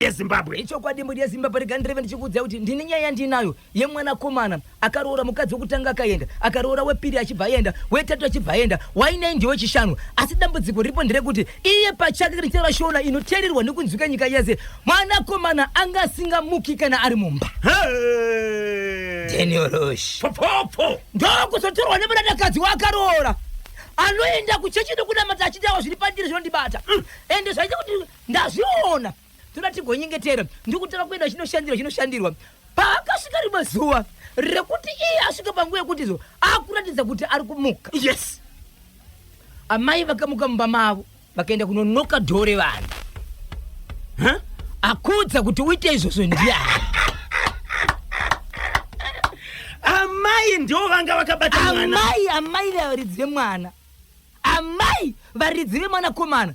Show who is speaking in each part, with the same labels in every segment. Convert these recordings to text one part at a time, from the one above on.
Speaker 1: yezimbabwe ichokwadi mbudi
Speaker 2: yezimbabwe rega ndireve ndichikuudzai kuti ndine nyaya yandinayo yemwanakomana akaroora mukadzi wekutanga akaenda akaroora wepiri achibva aenda wetatu achibva aenda wainei ndiwe chishanu asi dambudziko riripo nderekuti iye pachake richera shona inoteererwa nekunzwika nyika yese mwanakomana anga asingamuki kana ari mumba deniorosh popopo
Speaker 1: ndokuzotorwa
Speaker 2: nemunadakadzi waakaroora anoenda kuchechi nekunamata achitawa zviri pandiri zvinondibata mm. ende zvaita kuti Ndazviona toda tigonyengetera ndikutanga kuenda chinoshandirwa chinoshandirwa paakasvika rimwe zuva rekuti iye asvika panguva yekuti zo akuratidza kuti ari kumuka yes amai vakamuka mumba mavo vakaenda kunonoka dhoo revanhu huh? akuudza kuti uite izvozvo ndiani
Speaker 1: amai ndiwo vanga vakabata mwana amai amai varidzi
Speaker 2: vemwana amai varidzi vemwanakomana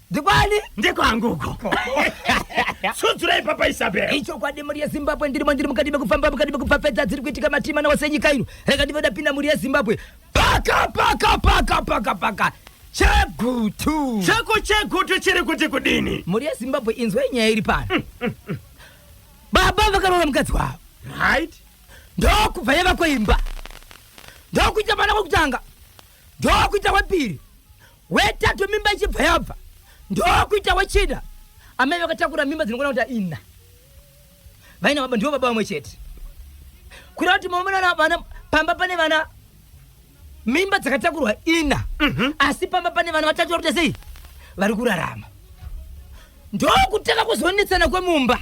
Speaker 2: ndikwani
Speaker 1: ndekwangu uko sudzurai papa isabel ichokwadi mhuri yezimbabwe
Speaker 2: ndirimo ndiri mukati mekufamba mukati mekupfapfedza dziri kuitika matimana wose nyika ino rega ndive ndapinda mhuri yezimbabwe paka paka paka paka paka chegutu chako chegutu
Speaker 1: chiri kuti kudini mhuri yezimbabwe inzwa
Speaker 2: inyaya iri pano mm, mm, mm. baba vakaroora mukadzi wavo right
Speaker 1: ndokubva
Speaker 2: yava kweimba ndokuita mwana kwekutanga ndokuita kwepiri wetatu mimba ichibva yabva ndokuita wechida amai vakatakura mimba dzinokona kuita ina vaina baba ndivo baba vamwe chete kureva kuti maomerana vana pamba pane vana mimba dzakatakurwa ina mhm. asi pamba pane vana vatatu vari kuita sei vari kurarama ndokutanga kuzonetsana kwemumba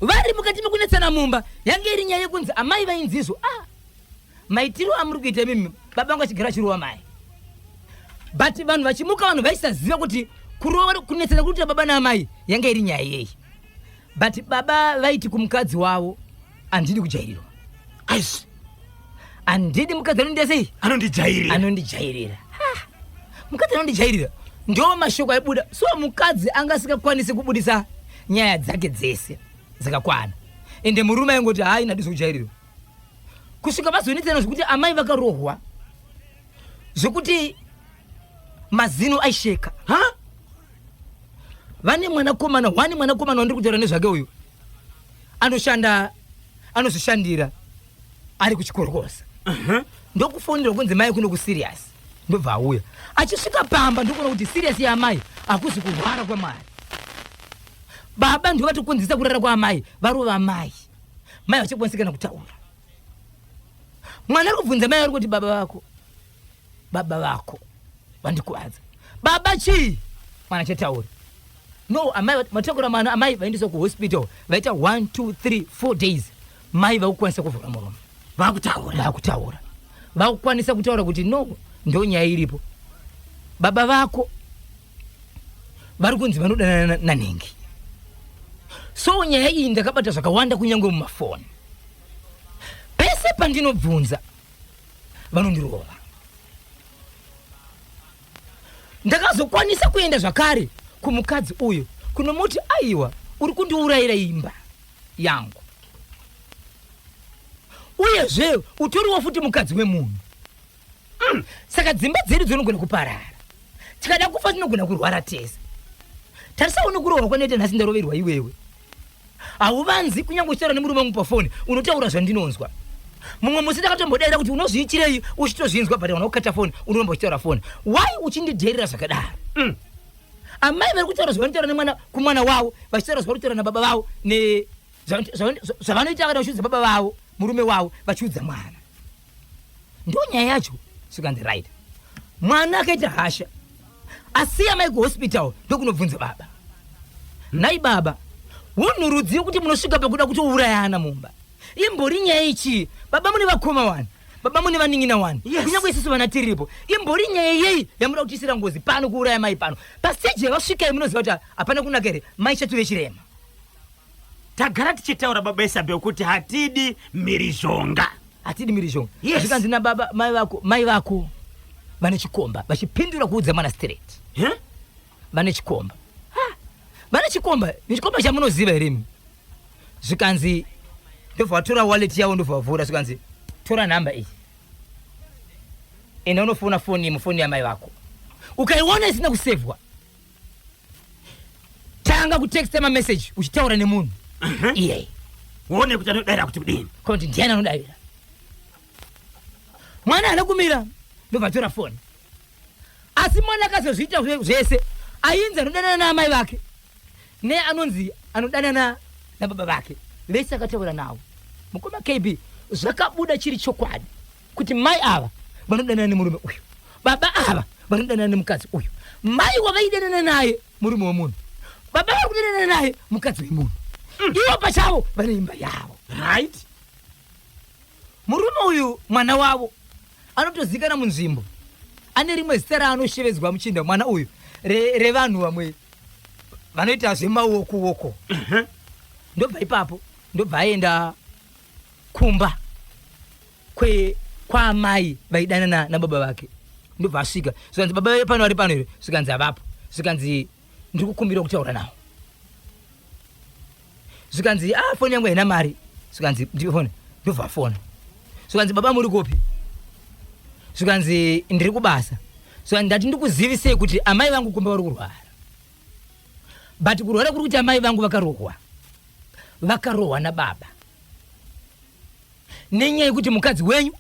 Speaker 2: vari mukati mekunetsana mumba yange iri nyaya yekunzi amai vainzizvo ah. maitiro amuri kuita imimi baba vangu vachigara vachirova mai but vanhu vachimuka vanhu vaisaziva kuti kurova kunetsana kuri kuita baba naamai yanga iri nyaya yeyi but baba vaiti kumukadzi wavo handidi kujairirwa aisi handidi mukadzi anondiita sei anondijairira anondijairira mukadzi anondijairira ndo mashoko aibuda so mukadzi anga asingakwanisi kubudisa nyaya dzake dzese dzakakwana ende murume aingoti hayi nadiso kujairirwa kusvika vazonetsana zvekuti amai vakarohwa zvekuti mazino aisheka ha vane mwanakomana wani mwanakomana wandiri kutaura nezvake uyu anoshanda anozvishandira ari kuchikorokosa uh -huh. ndokufonera kunzi mai kuno kuserious ndobva auya achisvika pamba ndokuona kuti serious yaamai hakuzi kurwara kwamwari baba ndovatokonzesa kurara kwaamai varova amai mai vachikwanisa kana kutaura mwana ari kubvunza mai ari kuti baba vako baba vako vandikuvadza baba chii mwana chataura no amai matakura mwana amai vaendeswa kuhospital vaita 1 2 3 4 days mai vakukwanisa kuvhura muromo vakutaura vakutaura vakukwanisa kutaura kuti no ndonyaya iripo baba vako vari kunzi vanodanana nanhengi so nyaya iyi ndakabata zvakawanda kunyange mumafoni pese pandinobvunza vanondirova ndakazokwanisa kuenda zvakare kumukadzi uyo kunomuti aiwa uri kundiurayira imba yangu uyezve utoriwo futi mukadzi wemunhu Mm, saka dzimba dzedu dzinogona kuparara tikada kufa tinogona kurwara tese tarisawo nokurohwa kwanoita nhasi ndaroverwa iwewe hauvanzi kunyange uchitaura nemurume wangu pafoni unotaura zvandinonzwa mumwe musi ndakatombodaira kuti unozviitirei uchitozvinzwa but kana ukata foni unoramba uchitaura foni why uchindidherera zvakadaro mm. amai vari kutaura zvavanotaura nemwana kumwana wavo vachitaura zvavanotaura nababa vavo zvavanoita kana vachiudza baba vavo murume wavo vachiudza mwana ndonyaya yacho zvikanzi right mwana akaita hasha asiya mai kuhospital ndokunobvunza baba nhai baba hunhu rudziyo kuti munosvika pakuda kutourayana mumba imbori nyaya ichii baba mune vakoma wani baba mune vaning'ina wani Yes. kunyange isusu vana tiripo imbori nyaya yeyi yamuda kutiisira ngozi pano kuuraya mai pano pasteji yavasvika iyi munoziva kuti hapana kunaka here mai chatove chirema
Speaker 1: Tagara tichitaura baba Isabel kuti hatidi
Speaker 2: mhirizhonga.
Speaker 1: Hatidi
Speaker 2: mhirizhonga. Yes. Zvikanzi na baba
Speaker 1: mai
Speaker 2: vako, mai vako vane chikomba vachipindura kuudza mwana straight. Huh? Vane chikomba. Ha. Vane chikomba, ni chikomba chamunoziva here imi? Zvikanzi ndobva vatora wallet yavo ndobva vavhura zvikanzi tora number iyi. Enda unofona foni yemu foni yamai vako. Ukaiona isina kusevhwa. tanga kutexta mameseji uchitaura nemunhu iyeye uone kuti
Speaker 1: anodaira kuti kudini kana kuti ndiani anodaira
Speaker 2: mwana ana kumira ndobva atora foni asi mwana akazozviita zve- zvese ainzi anodanana naamai vake ne anonzi anodanana nababa vake vese akataura navo mukoma kb zvakabuda chiri chokwadi kuti mai ava vanodanana nemurume uyu baba ava vanodanana nemukadzi uyu mai wavaidanana naye murume wemunhu baba vari kudanana naye mukadzi wemunhu mm. ivo pachavo vane imba yavo right murume uyu mwana wavo anotozikana munzvimbo ane rimwe zita raanoshevedzwa muchinda mwana uyu revanhu re vamwe vanoita zvemaoko woko ndobva ipapo ndobva aenda kumba kwe kwaamai vaidanana nababa vake ndobva asvika zvikanzi baba vee pano vari pano here zvikanzi havapo zvikanzi ndiri kukumbira kutaura nawo zvikanzi a ah, foni yangu haina mari zvikanzi ndipe foni ndobva afona zvikanzi baba muri kupi zvikanzi ndiri kubasa zvikanzi ndati ndikuzivisei kuti amai vangu kumba vari kurwara but kurwara kuri kuti amai vangu vakarohwa vakarohwa nababa nenyaya yekuti mukadzi wenyu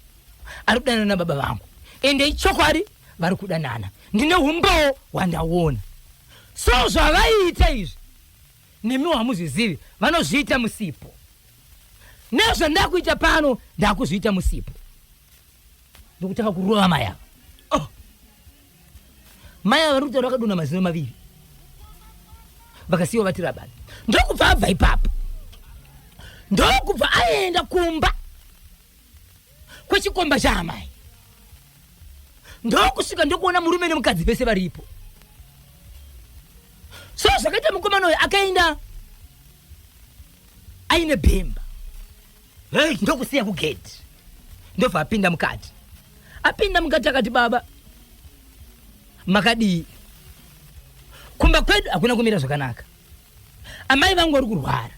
Speaker 2: ari kudanana nababa vangu ende ichokwadi vari kudanana ndine umbowo hwandaona so zvavaiita izvi nemiwo hamuzvizivi vanozviita musipo nezvandakuita pano ndakuzviita musipo ndokutanga kurova mayava Mai ava vari kutaura vakadona mazino maviri vakasiiwa vati rabani ndokubva abva ipapo ndokubva aenda kumba kwechikomba chaamai ndokusvika ndokuona murume nemukadzi vese varipo so zvakaita mukomana uyo akaenda aine bhemba hey. ndokusiya kugedhi ndobva apinda mukati apinda mukati akati baba makadii kumba kwedu hakuna kumira zvakanaka amai vangu vari kurwara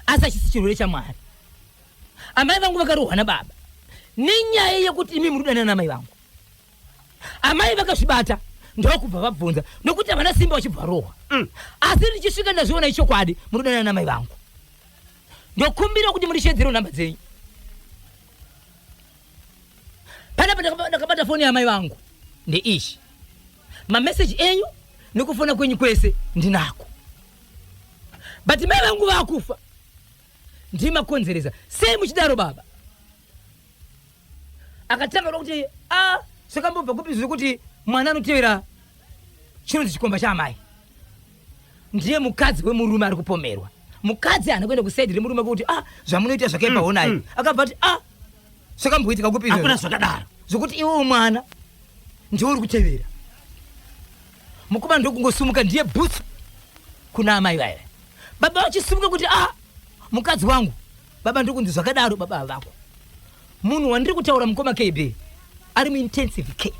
Speaker 2: asi achisi chirwere chamwari amai vangu vakarohwa nababa nenyaya yekuti imi muri kudanana namai vangu amai vakazvibata ndokubva vabvunza nokuti havana simba vachibva varohwa mm. asi ndichisvika ndazviona ichokwadi muri kudanana namai vangu ndokumbira kuti mundisheedzere nhamba dzenyu panapa ndakabata foni yamai vangu ndeichi mameseji enyu nekufona kwenyu kwese ndinako but mai vangu vakufa ndimakonzeresa sei muchidaro baba akatanga kuda kuti a zvakambobva kupi zviri kuti mwana anotevera chinonzi chikomba chaamai ndiye mukadzi wemurume ari kupomerwa mukadzi haana kuenda kusaidi remurume kuti a zvamunoita zvakaipa honai mm, mm. akabva ati a zvakamboitika kupi hakuna zvakadaro
Speaker 1: zvokuti iwewo mwana
Speaker 2: ndiwe uri kutevera mukomana ndokungosumuka ndiye bhutsu kuna amai vaya baba vachisimuka kuti a mukadzi wangu baba ndokunzi zvakadaro baba havako munhu wandiri kutaura mukoma kb ari muintensive care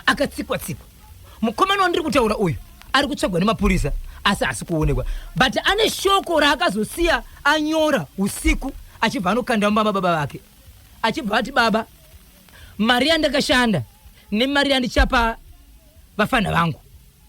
Speaker 2: akatsikwa tsikwa mukomana wandiri kutaura uyu ari kutsvagwa nemapurisa asi asi kuonekwa but ane shoko raakazosiya anyora usiku achibva anokanda mumba mababa vake achibva ati baba mari yandakashanda nemari yandichapa vafana vangu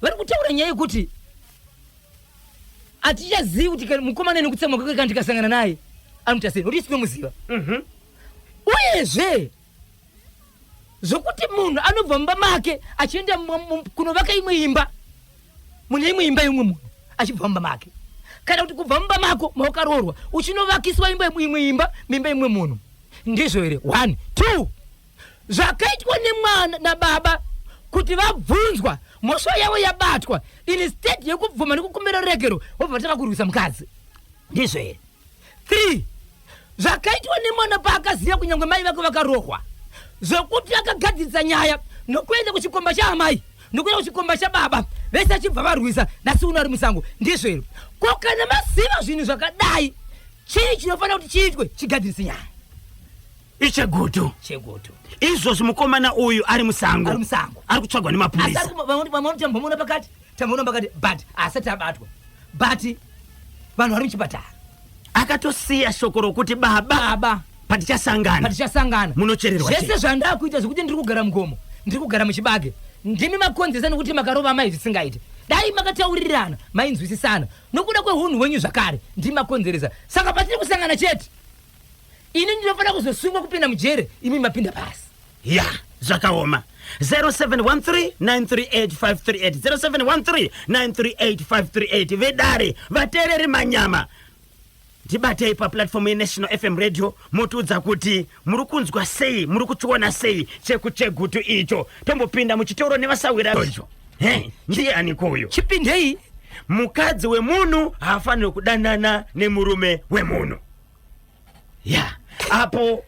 Speaker 2: vari kutaura nyaya yekuti hatichazivi kuti kana mukomana ane kutsamwa kwake kana tikasangana naye anoita sei nokuti sinomuziva Mhm. uyezve zvokuti munhu anobva mumba make achienda mu- mu- kunovaka imwe imba mune imwe imba yeumwe munhu achibva mumba make kana kuti kubva mumba mako mawakaroorwa uchinovakiswa imba imwe imba mimba imwe munhu ndizvo here one two zvakaitwa nemwana nababa kuti vabvunzwa mhosva yavo yabatwa instead yekubvuma nekukumbira ruregero vobva vatanga kurwisa mukadzi ndizvo here three zvakaitwa nemwana paakaziva kunyange mai vake vakarohwa zvekuti akagadzirisa nyaya nokuenda kuchikomba chaamai nokuenda kuchikomba chababa vese achibva varwisa nasi uno ari musango ndizvo here ko kana maziva zvinhu zvakadai chii chinofanira kuti chiitwe chigadzirise nyaya
Speaker 1: ichegutu chegutu izvozvi mukomana uyu ari musango ari musango ari kutsvagwa nemapurisa tambomuona
Speaker 2: pakati tambomuona pakati but asati abatwa but vanhu vari muchipatara akatosiya
Speaker 1: shoko rokuti baba baba patichasangana patichasangana munochererwa zvese zvandakuita
Speaker 2: zvekuti ndiri kugara mugomo ndiri kugara muchibage ndimi makonzesa nokuti makarova mai zvisingaite dai makataurirana mainzwisisana nokuda kwehunhu hwenyu zvakare ndimi makonzeresa saka patiri kusangana chete ini ndinofanira kuzosungwa kupinda mujere imi mapinda pasi ya
Speaker 1: zvakaoma 0713938538 0713938538 vedare vateereri manyama ndibatei paplatform yenational fm radio motiudza kuti muri kunzwa sei muri kuchiona sei chekuchegutu icho tombopinda muchitoro nevasahwira icho he ndiani kuyo chipindei
Speaker 2: mukadzi
Speaker 1: wemunhu haafaniri kudanana nemurume wemunhu ya apo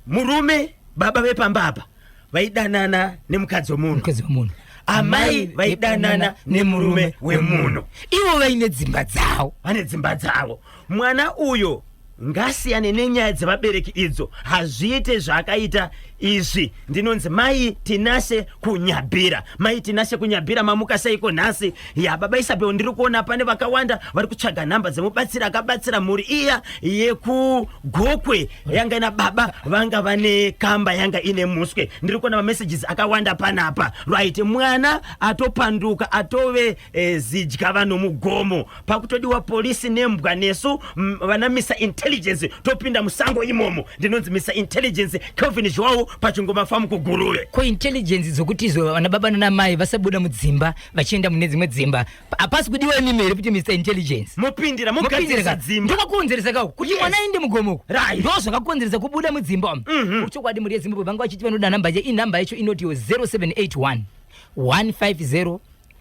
Speaker 1: murume baba vepamba apa vaidanana nemukadzi wemunhu mukadzi wemunhu amai vaidanana nemurume wemunhu ivo vaine
Speaker 2: dzimba dzavo vane dzimba dzavo
Speaker 1: mwana uyo ngasiyane nenyaya dzevabereki idzo hazviite zvaakaita izvi ndinonzi mai tinashe kunyabhira mai tinashe kunyabhira mamuka seiko nhasi ya baba isabel ndiri kuona pane vakawanda vari kutsvaga nhamba dzemubatsiri akabatsira mhuri iya yekugokwe yanga ina baba vanga vane kamba yanga ine muswe ndiri kuona mamessages akawanda panapa right mwana atopanduka atove eh, zidya vanomugomo pakutodiwa polisi nembwa nesu vana misa intelligence topinda musango imomo ndinonzi misa intelligence kelvin zhwawo pachingoma famu kuguruve ko intelligence
Speaker 2: dzokuti izo vana baba nana mai vasabuda mudzimba vachienda mune dzimwe dzimba hapasi kudiwa imimi here kuti misa intelligence mopindira mogadzirisa
Speaker 1: dzimba ndokakuonzeresa kako kuti
Speaker 2: mwana yes. aende mugomoko right. ndo zvakakuonzeresa kubuda mudzimba mm -hmm. uchokwadi mhuri yezimbabwe vanga vachiti vanoda nhamba yacho inhamba yacho inoti 0781 150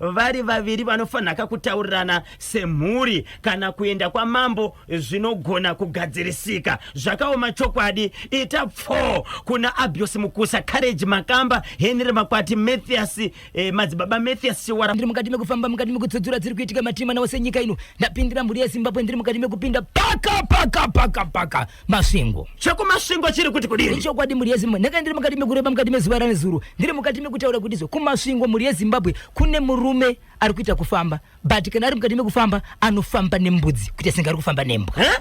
Speaker 1: vari vaviri vanofanhaka kutaurirana semhuri kana kuenda kwamambo zvinogona kugadzirisika zvakaoma chokwadi ita pfoo kuna abios mukusa courage makamba henry makwati mathias eh, madzibaba mathias chiwara ndiri mukati mekufamba mukati
Speaker 2: mekutsudzura dziri kuitika matima nawo senyika ino ndapindira mhuri yezimbabwe ndiri mukati mekupinda paka paka paka paka Masvingo. Cheko masvingo chiri
Speaker 1: kuti kudini? Ichokwadi mhuri yeZimbabwe. Ndakanga
Speaker 2: ndiri mukati mekureba mukati mezuva ranezuro. Ndiri mukati mekutaura kuti izvo kumasvingo mhuri yeZimbabwe kune murume ari kuita kufamba. But kana ari mukati mekufamba anofamba nembudzi kuita senge ari kufamba nembwa. Huh?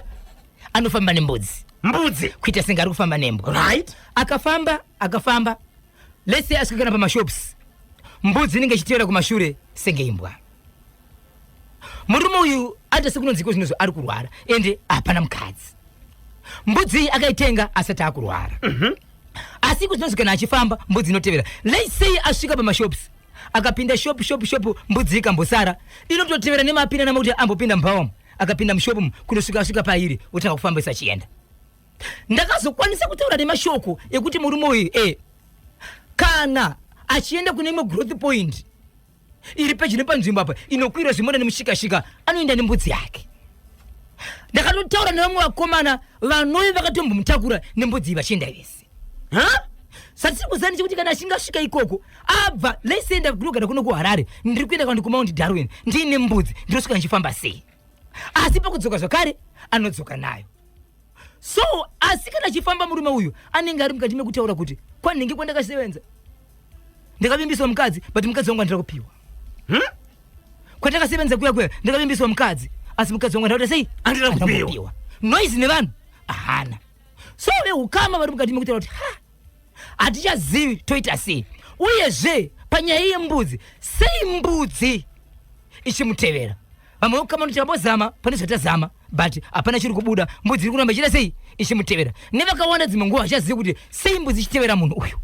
Speaker 2: Anofamba nembudzi. Mbudzi. Kuita senge ari kufamba nembwa. Right. Akafamba, akafamba Let's say asvika kana pamashops mbudzi inenge ichitevera kumashure senge imbwa. Murume uyu ata sekunonzi iko zvinozvo ari kurwara ende hapana mukadzi. Mbudzi iyi akaitenga asati akurwara. Mm -hmm. Asi iko zvinonzi kana achifamba mbudzi inotevera. Let's say asvika pamashops akapinda shop shop shop mbudzi ikambosara inototevera nemapinda namakuti ambopinda mubhawamu akapinda mushopu kunosvika asvika pairi otanga kufamba isachienda ndakazokwanisa kutaura nemashoko ekuti murume uyu e kana achienda kune imwe growth point iri pedyo nepanzvimbo apa inokwira zvimona nemushikashika anoenda nembudzi yake ndakatotaura nevamwe vakomana vanove vakatombomutakura nembudzi iyi vachienda vese ha satiri kuzani chekuti kana achinge asvika ikoko abva leisenda kunogara kuno kuharare ndiri kuenda kwandi kumaundi darwin ndiine mbudzi ndinosvika ndichifamba sei asi pakudzoka zvakare anodzoka nayo so asi kana achifamba murume uyu anenge ari mukati mekutaura kuti kwanhingi kwandakasevenza ndakavimbiswa mukadzi but mukadzi wangu andira kupiwa hmm? kwatakasevenza kuya kuya ndakavimbiswa mukadzi asi mukadzi wangu andakuta sei andira kupiwa noise nevanhu ahana so veukama vari mukati mekutaura kuti ha hatichazivi toita sei uyezve panyaya yembudzi sei mbudzi ichimutevera vamwe vekukama tichambozama pane zvatazama but hapana chiri kubuda mbudzi iri kuramba ichita sei ichimutevera nevakawanda dzimwe nguva vachazivi kuti sei mbudzi ichitevera munhu uyu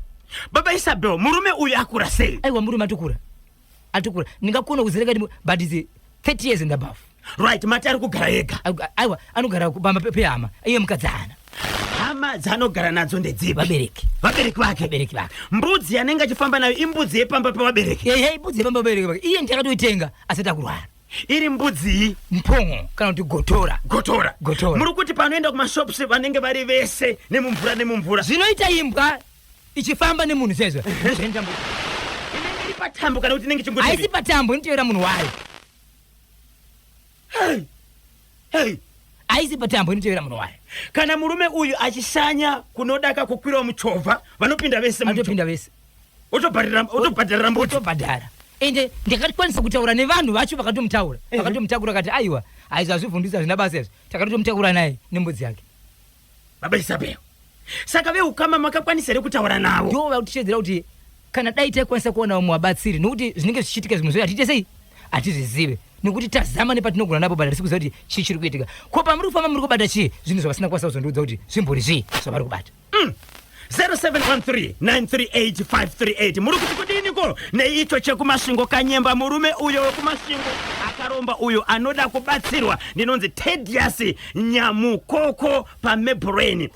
Speaker 2: baba isabel
Speaker 1: murume uyu akura sei aiwa murume atokura
Speaker 2: atikura ndingakona kuzereka ndimwe but is 30 years and above right mati ari
Speaker 1: kugara ega aiwa anogara
Speaker 2: pamba pehama iye mukadzi hana hama
Speaker 1: dzaanogara nadzo ndedzipi vabereki vabereki
Speaker 2: vake vabereki vake mbudzi yanenge
Speaker 1: achifamba nayo imbudzi yepamba pevabereki ehe imbudzi yepamba pevabereki
Speaker 2: vake iye ndiye akatoitenga asati akurwara iri mbudzii
Speaker 1: mpongo kana kuti
Speaker 2: gotora gotora gotora muri kuti
Speaker 1: panoenda kumashops vanenge vari vese nemumvura nemumvura zvinoita imbwa
Speaker 2: ichifamba nemunhu sezvo zventambo
Speaker 1: inenge iri patambo kana kuti inenge chingoti haisi patambo inoteera munhu
Speaker 2: wayo Hey! Hey!
Speaker 1: haisi
Speaker 2: patambo inoteera munhu wayo kana murume uyu
Speaker 1: achishanya kunodaka kukwirawo muchovha vanopinda vese muchovha. anotopinda vese Otobhadhara- otobhadharira mbuti otobhadhara ende
Speaker 2: ndakakwanisa kutaura nevanhu vacho vakatomutaura Ehe. vakatomutakura kati aiwa aizo azvivhundisa zvina basa izvo takatotomutakura naye nembudzi yake Baba
Speaker 1: Isabel, saka veukama makakwanisa here kutaura navo? Ndivo vakutishedzera kuti
Speaker 2: kana dai taikwanisa kuona vamwe vabatsiri nokuti zvinenge zvichiitika zvimwe zvoyo hatiite sei hatizvizive nokuti tazama nepatinogona napo but hatisi kuziva kuti chii chiri kuitika ko pamuri kufamba muri kubata chii zvinhu zvavasina kukwanisa kuzondiudza kuti zvimbori zvii zvavari kubata mm. 0713938538
Speaker 1: muri kuti kudiniko neicho chekumasvingo kanyemba murume uyo wekumasvingo akaromba uyo anoda kubatsirwa ndinonzi tedius nyamukoko pameburain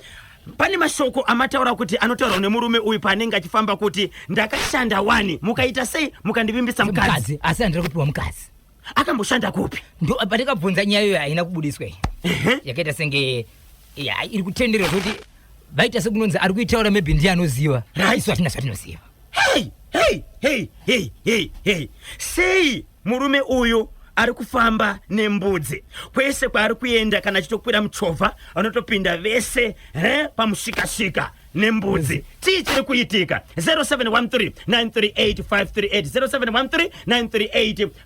Speaker 1: pane mashoko amataura kuti anotaurwa nemurume uyu paanenge achifamba kuti ndakashanda wani mukaita sei mukandivimbisa mukadzi asi handiri kupiwa mukadzi
Speaker 2: akamboshanda
Speaker 1: kupi ndo patakabvunza
Speaker 2: nyaya iyo haina kubudiswa iyi yakaita senge ya iri kutenderwa zvekuti vaita sekunonzi ari kuitaura maybe ndiye anoziva isu hatina zvatinoziva Hey, hey, hey, hey,
Speaker 1: hey, hey. sei murume uyu ari kufamba nembudzi kwese kwaari kuenda kana achitokwira muchovha vanotopinda vese he pamushikashika nembudzi chii chiri kuitika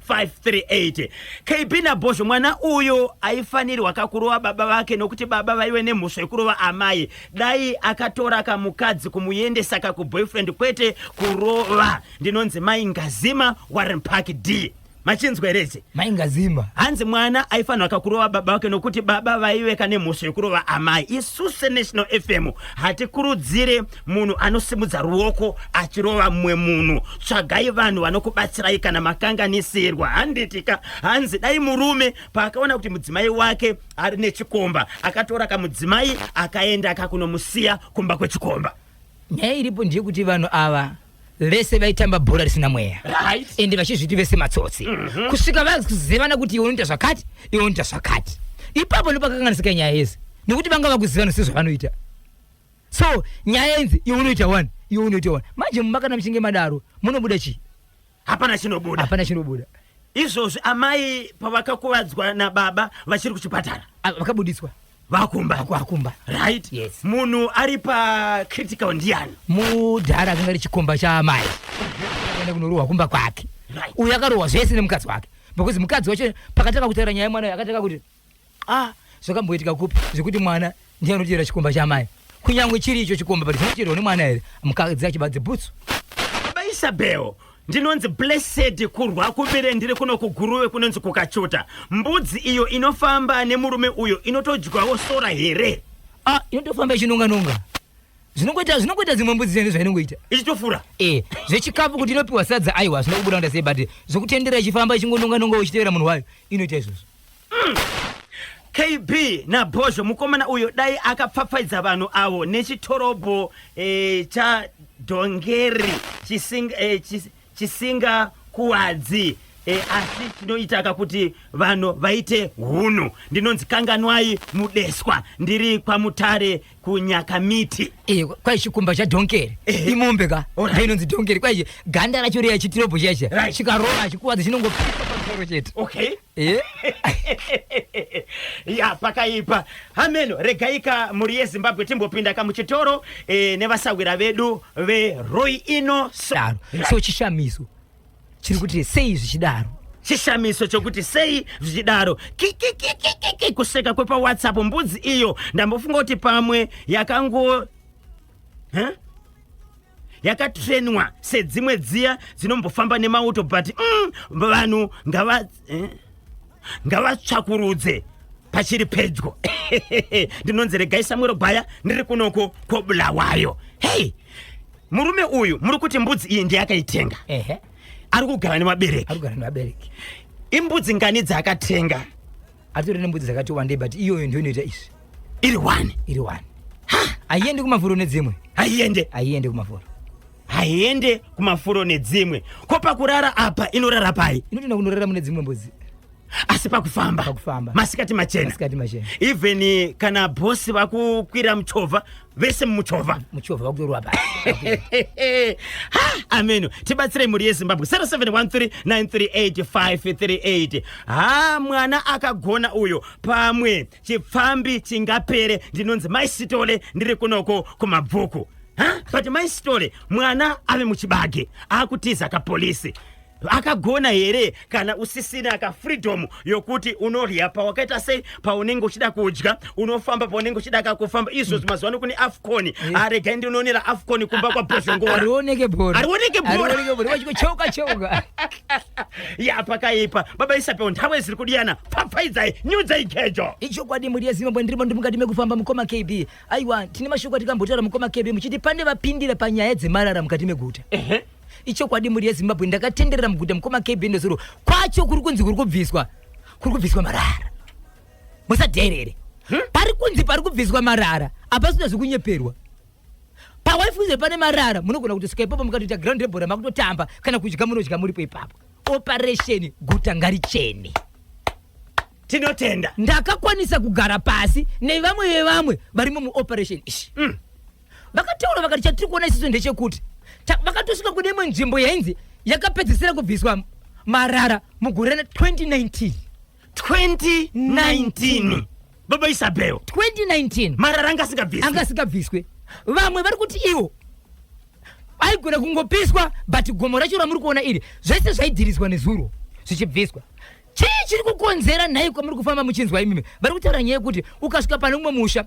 Speaker 1: 0713938538 kb nabhozho mwana uyu aifanirwa kakurova baba vake nokuti baba vaive nemhosva yekurova amai dai akatora kamukadzi kumuendesa kakuboyfriend kwete kurova ndinonzi mai ngazima warren park d machinzwa here ichi maingazimba hanzi
Speaker 2: mwana
Speaker 1: aifanirwa kakurova baba vake nokuti baba vaiveka nemhosva yokurova amai isu senational fm hatikurudzire munhu anosimudza ruoko achirova mumwe munhu tsvagai vanhu vanokubatsirai kana makanganisirwa handitika hanzi dai murume paakaona kuti mudzimai wake ari nechikomba akatora kamudzimai akaenda akakunomusiya kumba kwechikomba Nyaya iripo
Speaker 2: ndeyekuti vanhu ava vese vaitamba bhora risina mweya right. ende vachizviti vese matsotsi mm -hmm. kusvika vakuzivana kuti iwe unoita zvakati iwe unoita zvakati ipapo ndopakakanganisika nyaya yese nekuti vanga vakuzivana sezvavanoita so nyaya inzi iwe unoita one iwe unoita one manje mumakana muchinge madaro munobuda chii hapana chinobuda
Speaker 1: hapana chinobuda izvozvi amai pavakakuvadzwa nababa vachiri kuchipatara ah, vakabudiswa
Speaker 2: vakumba vakumba right yes
Speaker 1: munhu ari
Speaker 2: pa
Speaker 1: critical ndiani mudhara akanga
Speaker 2: ari chikomba chaamai akaenda kunorohwa kumba kwake right. uyu akarohwa zvese nemukadzi wake because mukadzi wacho pakatanga kutaura nyaya yemwana akatanga kuti ah zvakamboitika kupi zvekuti mwana ndiye anodyera chikomba chamai kunyange chiri icho chikomba but zvinocherwa nemwana here mukadzi achibadze bhutsu baba
Speaker 1: isabel ndinonzi blessed kurwa kubire ndiri kuno kuguruve kunonzi kukachuta mbudzi iyo inofamba nemurume uyo inotodyawo sora here ah inotofamba
Speaker 2: ichinonganonga zvinongoita zvinongoita dzimwe mbudzi dzene zvainongoita ichitofura e
Speaker 1: zvechikafu
Speaker 2: kuti inopiwa sadza aiwa hazvina kubuda kunda sei but zvokutendera ichifamba ichingononganonga uchitevera munhu wayo inoita izvozvo KB
Speaker 1: naBhozho mukomana uyo dai akapfapfaidza vanhu avo nechitorobho eh, chadhongeri chisinga, eh, chis- chisinga kuwadzi eh, asi chinoitaka kuti vanhu vaite hunhu ndinonzi kanganwai mudeswa ndiri kwamutare kunyakamiti Eh, kwai chikumba
Speaker 2: chadhonkeri Ehe. imombe ka Alright. ainonzi dhonkeri kwai ganda racho riya chitirobho chaiche Right. chikarova chikuwadza chinongopiwa pamusoro chete okay
Speaker 1: Eh? ya pakaipa hameno regaika mhuri yezimbabwe timbopinda ka muchitoro eh, nevasahwira vedu veroi ino so, daro so
Speaker 2: chishamiso chiri kuti sei zvichidaro chishamiso
Speaker 1: chokuti sei zvichidaro kikikikikiki kuseka kwepawhatsapp mbudzi iyo ndambofunga kuti pamwe yakango huh? yakatrenwa sedzimwe dziya dzinombofamba nemauto but mm, vanhu ngava eh, ngavatsvakurudze pachiri pedyo ndinonzi regai samwero gwaya ndiri kunoko kwobulawayo hei murume uyu muri kuti mbudzi iyi ndeyakaitenga ari kugara nemabereki imbudzi ngani dzaakatenga atori
Speaker 2: nembudzi dzakati wandei but iyoyo ndiyo inoita izvi iri one
Speaker 1: iri one haiende
Speaker 2: kumafuro nedzimwe haiende haiende kumafuro haiende
Speaker 1: kumafuro nedzimwe ko pakurara apa inorara pai inotoenda kunorara mune dzimwe
Speaker 2: mbudzi asi
Speaker 1: pakufamba pakufamba masikati machena masikati machena even kana bhosi vakukwira muchovha vese mumuchovha muchovha vakutorwa pa ameno tibatsirei mhuri yezimbabwe 0713938538 ha mwana akagona uyo pamwe chipfambi chingapere ndinonzi mai sitole ndiri kunoko kumabvuku ha but mai sitole mwana ave muchibage akutiza kapolisi akagona here kana usisina ka freedom yokuti unodya pawakaita sei paunenge uchida kudya unofamba paunenge uchida ka kufamba izvozvi mazuva ano kune afcon eh. aregai ndinoonera afcon kumba kwa bozongora arioneke bora arioneke
Speaker 2: bora cheuka cheuka ya
Speaker 1: pakaipa baba isapewo nthawi ziri kudiyana pfapfaidzai nyudzai gejo ichokwadi mhuri yezimbabwe
Speaker 2: ndirimo ndi mukati mekufamba mukoma kb aiwa tine mashoko atikambotaura mukoma kb muchiti pane vapindira panyaya dzemarara mukati meguta ichokwadi mhuri yezimbabwe ndakatenderera muguta mukoma kb ndozuro kwacho kuri kunzi kuri kubviswa kuri kubviswa marara musadherere hmm? pari kunzi pari kubviswa marara apasina zvekunyeperwa pawaifuze pane marara munogona kutosvika ipapo mukatoita ground rebhora makutotamba kana kudya munodya muripo ipapo operation guta ngarichene
Speaker 1: tinotenda ndakakwanisa
Speaker 2: kugara pasi nevamwe vevamwe varimo muoperation ishi mm. vakataura vakati chatiri kuona isisu ndechekuti vakatosvika kune imwe nzvimbo yainzi yakapedzisira kubviswa marara mugore 2019 2019
Speaker 1: baba isabel 2019 marara
Speaker 2: anga asingabviswe
Speaker 1: anga asingabviswe
Speaker 2: vamwe vari kuti iwo aigona kungopiswa but gomo racho ramuri kuona iri zvese zvaidhiriswa nezuro zvichibviswa chii chiri kukonzera nhai kwamuri kufamba muchinzwa imimi vari kutaura nyaya yekuti ukasvika pane umwe musha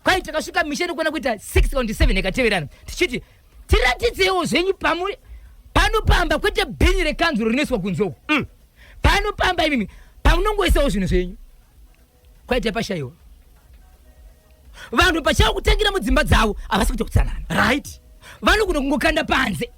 Speaker 2: kwai takasvika misha inokwana kuita 6 kaunti 7 ikateverana tichiti tiratidzewo zvenyu pamuri pano pamba kwete bhini rekanzu rinoiswa kunze uku mm. pano pamba imimi pamunongoisawo zvinhu zvenyu kwaita pashaiwa vanhu pachavo kutangira mudzimba dzavo havasi kuita kutsanana right
Speaker 1: vanogona kungokanda
Speaker 2: panze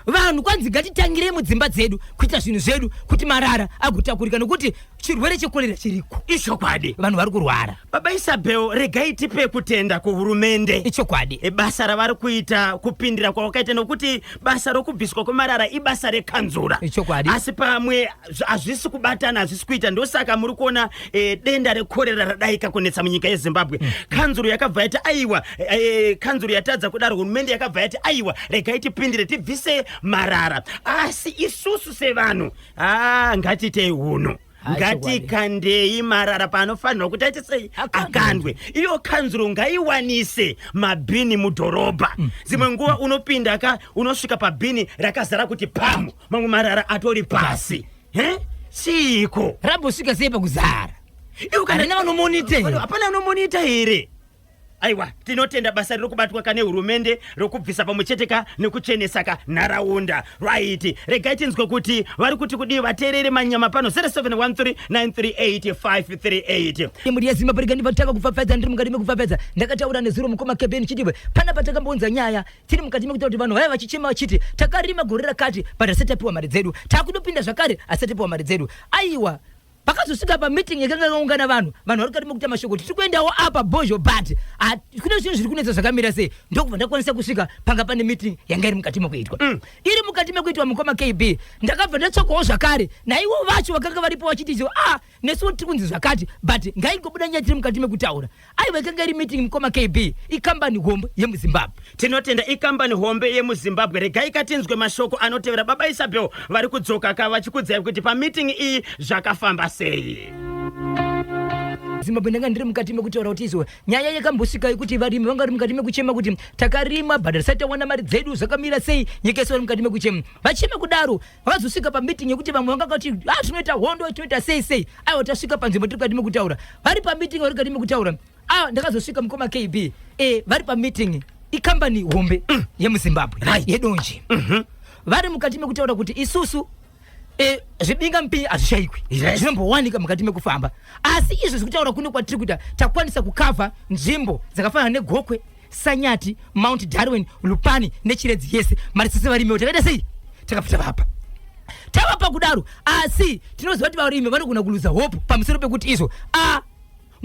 Speaker 2: vanhu kwanzi ngatitangirei mudzimba dzedu kuita zvinhu zvedu kuti marara agotakurika nokuti chirwere chekorera chiriko ichokwadi vanhu vari
Speaker 1: kurwara
Speaker 2: baba isabel
Speaker 1: regai tipe kutenda kuhurumende ichokwadi basa
Speaker 2: ravari kuita
Speaker 1: kupindira kwawakaita nokuti basa rokubviswa kwemarara ibasa rekanzura ichokwadi asi
Speaker 2: pamwe
Speaker 1: hazvisi kubatana hazvisi kuita ndosaka muri kuona e, denda rekorera radaika kunetsa munyika yezimbabwe mm. kanzuro yakabva yati aiwa e, kanzuro yatadza kudaro hurumende yakabva yati aiwa regai tipindire tibvise marara asi isusu sevanhu ah, ngatiitei uno ngatikandei marara paanofanirwa kuti aite sei akandwe iyo kanzuro ngaiwanise mabhini mudhorobha mm. dzimwe nguva unopinda ka unosvika pabhini rakazara kuti pamu mamwe marara atori pasi he chiiko rabosvika sei
Speaker 2: pakuzara iwe kana Handina vanomonita here? hapana
Speaker 1: anomonita here aiwa tinotenda basa riri kubatwa ka nehurumende rokubvisa pamwe chete ka nekuchenesa ka nharaunda right regai tinzwe kuti vari kuti kudii vateerere manyama pano 0713938538 Imuri yezimba parikani
Speaker 2: vatanga kupfapfadza ndiri mukati mekupfapfadza ndakataura nezuro mukoma keben chidibwe pana patakambonza nyaya tiri mukati mekuita kuti vanhu vaya vachichema vachiti takarima gore rakati but asati tapiwa mari dzedu takudopinda zvakare asati tapiwa mari dzedu aiwa pakazosvika pameeting yakanga yakaungana vanhu vanhu vari kati mekuita mashoko tiri kuendawo apa bozho but ah, kune zvinhu zviri kunetsa zvakamira sei ndokubva ndakwanisa kusvika panga pane meeting yanga iri mukati mekuitwa mm. iri mukati mekuitwa mukoma kb ndakabva ndatsvakawo zvakare naivo vacho vakanga varipo vachiti a ah, nesu tiri kunzi zvakati but ngaingobuda nyaya tiri mukati mekutaura aiwa ikanga iri meeting mukoma kb ikambani hombe yemuzimbabwe tinotenda ikambani
Speaker 1: hombe yemuzimbabwe regai katinzwe mashoko anotevera baba isabel vari kudzoka ka vachikudzai kuti pameeting iyi zvakafamba sei zimbabwe
Speaker 2: ndanga ndiri mukati mekutaura kuti izo nyaya yakambosvika yekuti varimi vanga vari mukati mekuchema kuti takarima but hatisati tawana mari dzedu zvakamira sei nyika yese vari mukati mekuchema vachema kudaro vazosvika pameeting yekuti vamwe vanga vakati ah tinoita hondo tinoita sei sei aiwa tasvika panzvimbo tiri kukati mekutaura vari pameeting vari kukati mekutaura ah ndakazosvika mukoma kb eh vari pameeting ikambani hombe mm. yemuzimbabwe right. yedonje mm -hmm. vari mukati mekutaura kuti isusu eh, zvibinga mupinyi hazvishaikwi yes. zvinombowanika mukati mekufamba asi izvo zvekutaura kuno kwatiri kuita takwanisa kukavha nzvimbo dzakafanana negokwe sanyati mount darwin lupani nechiredzi yese mari sisi varimiwo takaita sei takapfuta vapa tavapa kudaro asi tinoziva kuti varimi vanogona kuluza hope pamusoro pekuti izvo a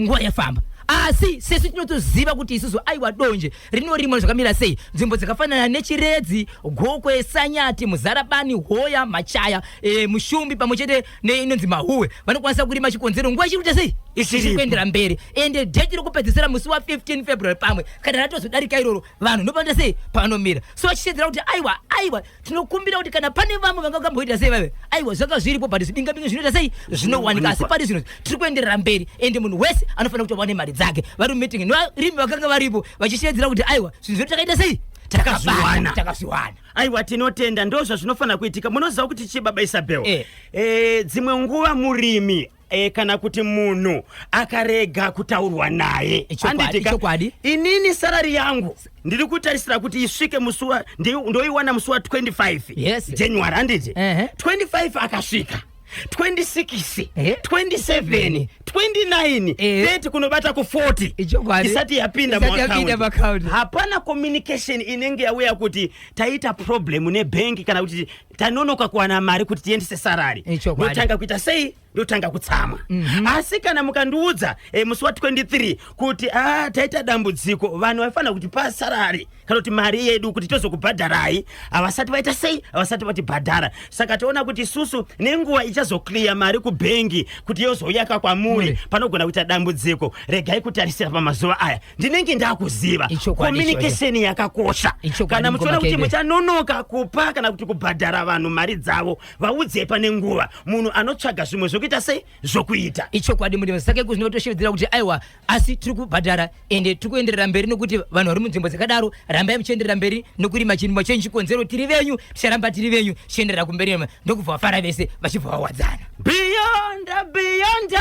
Speaker 2: nguva yafamba asi sesu tinotoziva kuti isusu aiwa donje rinorimwa zvakamira sei nzvimbo dzakafanana nechiredzi gokwe sanyati muzarabani hoya machaya e, mushumbi pamwe chete neinonzi mahuwe vanokwanisa kurima chikonzero nguva ichiri kuita sei ichiri kuendera mberi ende dheti rokupedzisira musi wa 15 february pamwe kana ratozodarika iroro vanhu ndopanoita sei panomira so vachishedzera kuti aiwa aiwa tinokumbira kuti kana pane vamwe vanga vakamboita sei vave aiwa zvanga zviripo but zvidingabinga zvinoita sei zvinowanika asi pari zvino tiri kuenderera mberi ende munhu wese anofanira kuti awane mari dzake vari mumeeting nevarimi vakanga varipo vachishedzera kuti aiwa zvinhu zvedu takaita sei takazviwana takazviwana aiwa
Speaker 1: tinotenda ndo zvazvinofanira kuitika munoziva kuti chii baba isabel Eh. Eh, dzimwe nguva murimi eh, kana kuti munhu akarega kutaurwa naye Ichokwadi, Handiti ka? ichokwadi.
Speaker 2: inini sarari
Speaker 1: yangu ndiri kutarisira kuti isvike musi wa ndi- ndoiwana musi wa 25 Yes. january handiti Ehe. 25 akasvika 26 Eh? 27 29 Eh. 30 kunobata ku 40 Ichokwadi. isati yapinda mu Isati yapinda mu account. account. hapana communication inenge yauya kuti taita problem nebhengi kana kuti tanonoka kuwana mari kuti tiendese sarari Ichokwadi. ndotanga kuita sei ndotanga kutsamwa asi kana mukandiudza eh, musi wa 23 kuti ah, taita dambudziko vanhu vaifanira kuti pasarari kana kuti mari yedu kuti tozokubhadharai havasati vaita sei havasati vatibhadhara saka toona kuti isusu nenguva ichazokliya mari kubhengi kuti yozouyaka kwamuri panogona kuita dambudziko regai kutarisira pamazuva aya ndinenge ndakuziva komunikesheni yakakosha kana muchiona kuti muchanonoka kupa kana kuti kubhadhara vanhu mari dzavo vaudzei pane nguva munhu anotsvaga zvimwe zvokuita sei zvokuita ichokwadi murimi sake
Speaker 2: kuzvinotoshevedzera kuti aiwa asi tiri kubhadhara ende tiri kuenderera mberi nokuti vanhu vari munzvimbo dzakadaro rambai muchienderera mberi nokurima chirimwa chenyu chikonzero tiri venyu ticharamba tiri venyu tichienderera kumberi ndokubva vafara vese vachibva vawadzana beyond
Speaker 1: beyond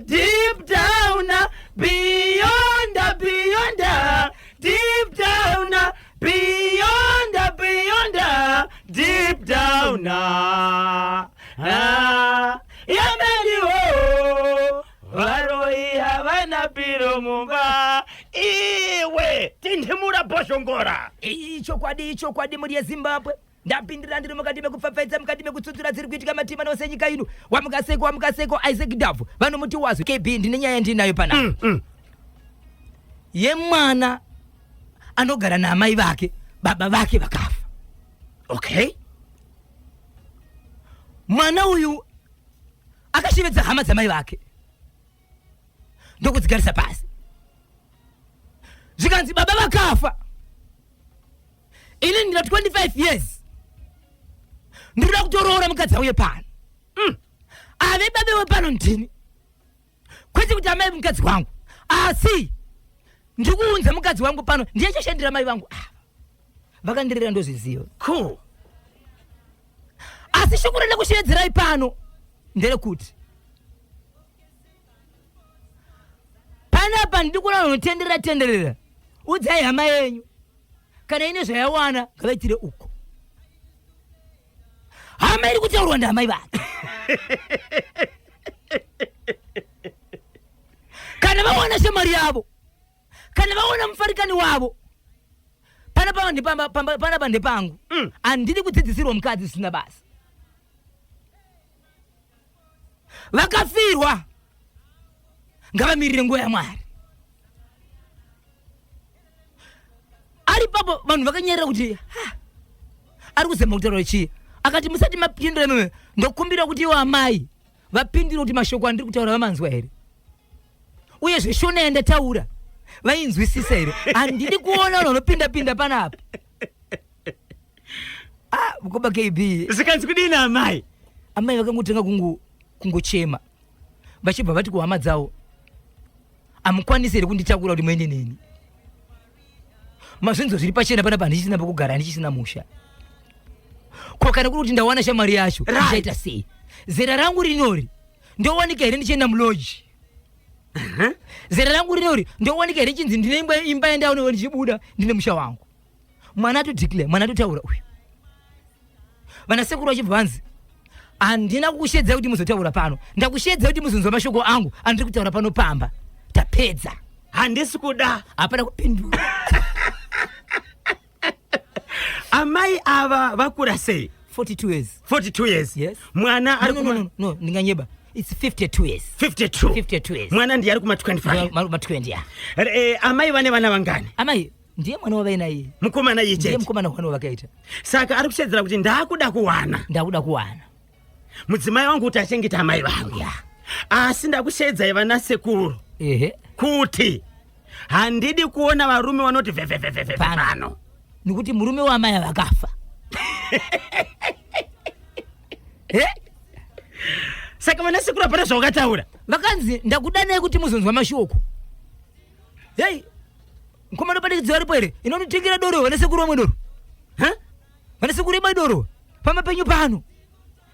Speaker 1: deep down beyond beyond deep down beyond beyond deep down ah, yeah, Varoyi havana piro mumba iwe tindimura bhozhongora. Iyi ichokwadi
Speaker 2: ichokwadi mhuri yeZimbabwe ndapindira ndiri mukati mekupfapfaidza mukati mekutsutsura dziri kuitika matima nose nyika ino wamukaseko wamukaseko Isaac Ndabvu vanomuti wazwi KB ndine nyaya ndinayo pana mm, mm. yemwana anogara naamai vake baba vake vakafa okay mwana uyu akashevedza hama dzamai vake ndokudzigarisa pasi zvikanzi baba vakafa ini ndina 25 years ndinoda kutoroora mukadzi auye pano mm. ave babe wepano ndini kwete kuti amai mukadzi wangu asi ndikuunza mukadzi wangu pano ndiye chashandira mai vangu ava vakandirera ndozviziva cool asi shoko renda kushevedzerayi pano nderekuti panapa ndiri kuona unotenderera tenderera udzai hama yenyu kana ine zvayawana ngavaitire uko hama iri kutaurwa ndihamai vake kana vawana shamari yavo kana vaona mufarikani wavo panapa ndepamba- pamba- panapa ndepangu Mm. handidi kudzidzisirwa mukadzi zvisina basa vakafirwa ngavamirire nguva yamwari ari papo vanhu vakanyerera kuti "Ha, ari kuzama kutaura chii akati musati mapindura imimi ndokumbira kuti iwo amai vapindire kuti mashoko andiri kutaura vamanzwa here uye zveshona yandataura vainzwisisa here handidi kuona vanhu vanopinda pinda panapa ah, koba kb zvikanzi kudini
Speaker 1: amai amai vakangotanga
Speaker 2: kungochema vachibva vati kuhama dzavo amukwanisi here kunditakura kuti muende neni mazvinzo zviri pachena panapa handichisina pakugara handichisina musha ko kana kuri kuti ndawana shamwari yacho ichaita sei zera rangu rinori ndowanika here ndichienda muloji zera rangu rine uri ndowanika here chinzi ndine imba imba yandaonewa ndichibuda ndine musha wangu mwana atodeclare mwana atotaura uyu vana sekuru vachibva vanzi handina kukushedza kuti muzotaura pano ndakushedza kuti muzonzwa mashoko angu andiri kutaura pano pamba tapedza handisi
Speaker 1: kuda hapana kupindura amai ava vakura sei 42 years
Speaker 2: 42 years yes
Speaker 1: mwana ari
Speaker 2: no, no, no,
Speaker 1: no, ndinganyeba
Speaker 2: it's 52 years 52 52 years
Speaker 1: mwana ndiye ari kuma
Speaker 2: 25
Speaker 1: ma 20 ya
Speaker 2: eh, amai vane vana vangani
Speaker 1: amai ndiye mwana
Speaker 2: wavaina iye mukomana iye chete ndiye
Speaker 1: mukomana wavakaita
Speaker 2: saka ari kushedzera
Speaker 1: kuti ndakuda kuwana ndakuda kuwana
Speaker 2: mudzimai wangu kuti achengeta
Speaker 1: amai vangu ya asi ndakusheedzai vana sekuru ehe kuti handidi kuona varume vanoti vhevhevhevheve Pano. pano nekuti murume
Speaker 2: wamai vakafa
Speaker 1: Eh, saka vana sekuru hapana zvawakataura vakanzi
Speaker 2: ndakudanai kuti muzonzwa mashoko hei mkomana padikidzi varipo here inonotengera doro vana sekuru vamwe doro Ha? Vana sekuru imai doro pamba penyu pano.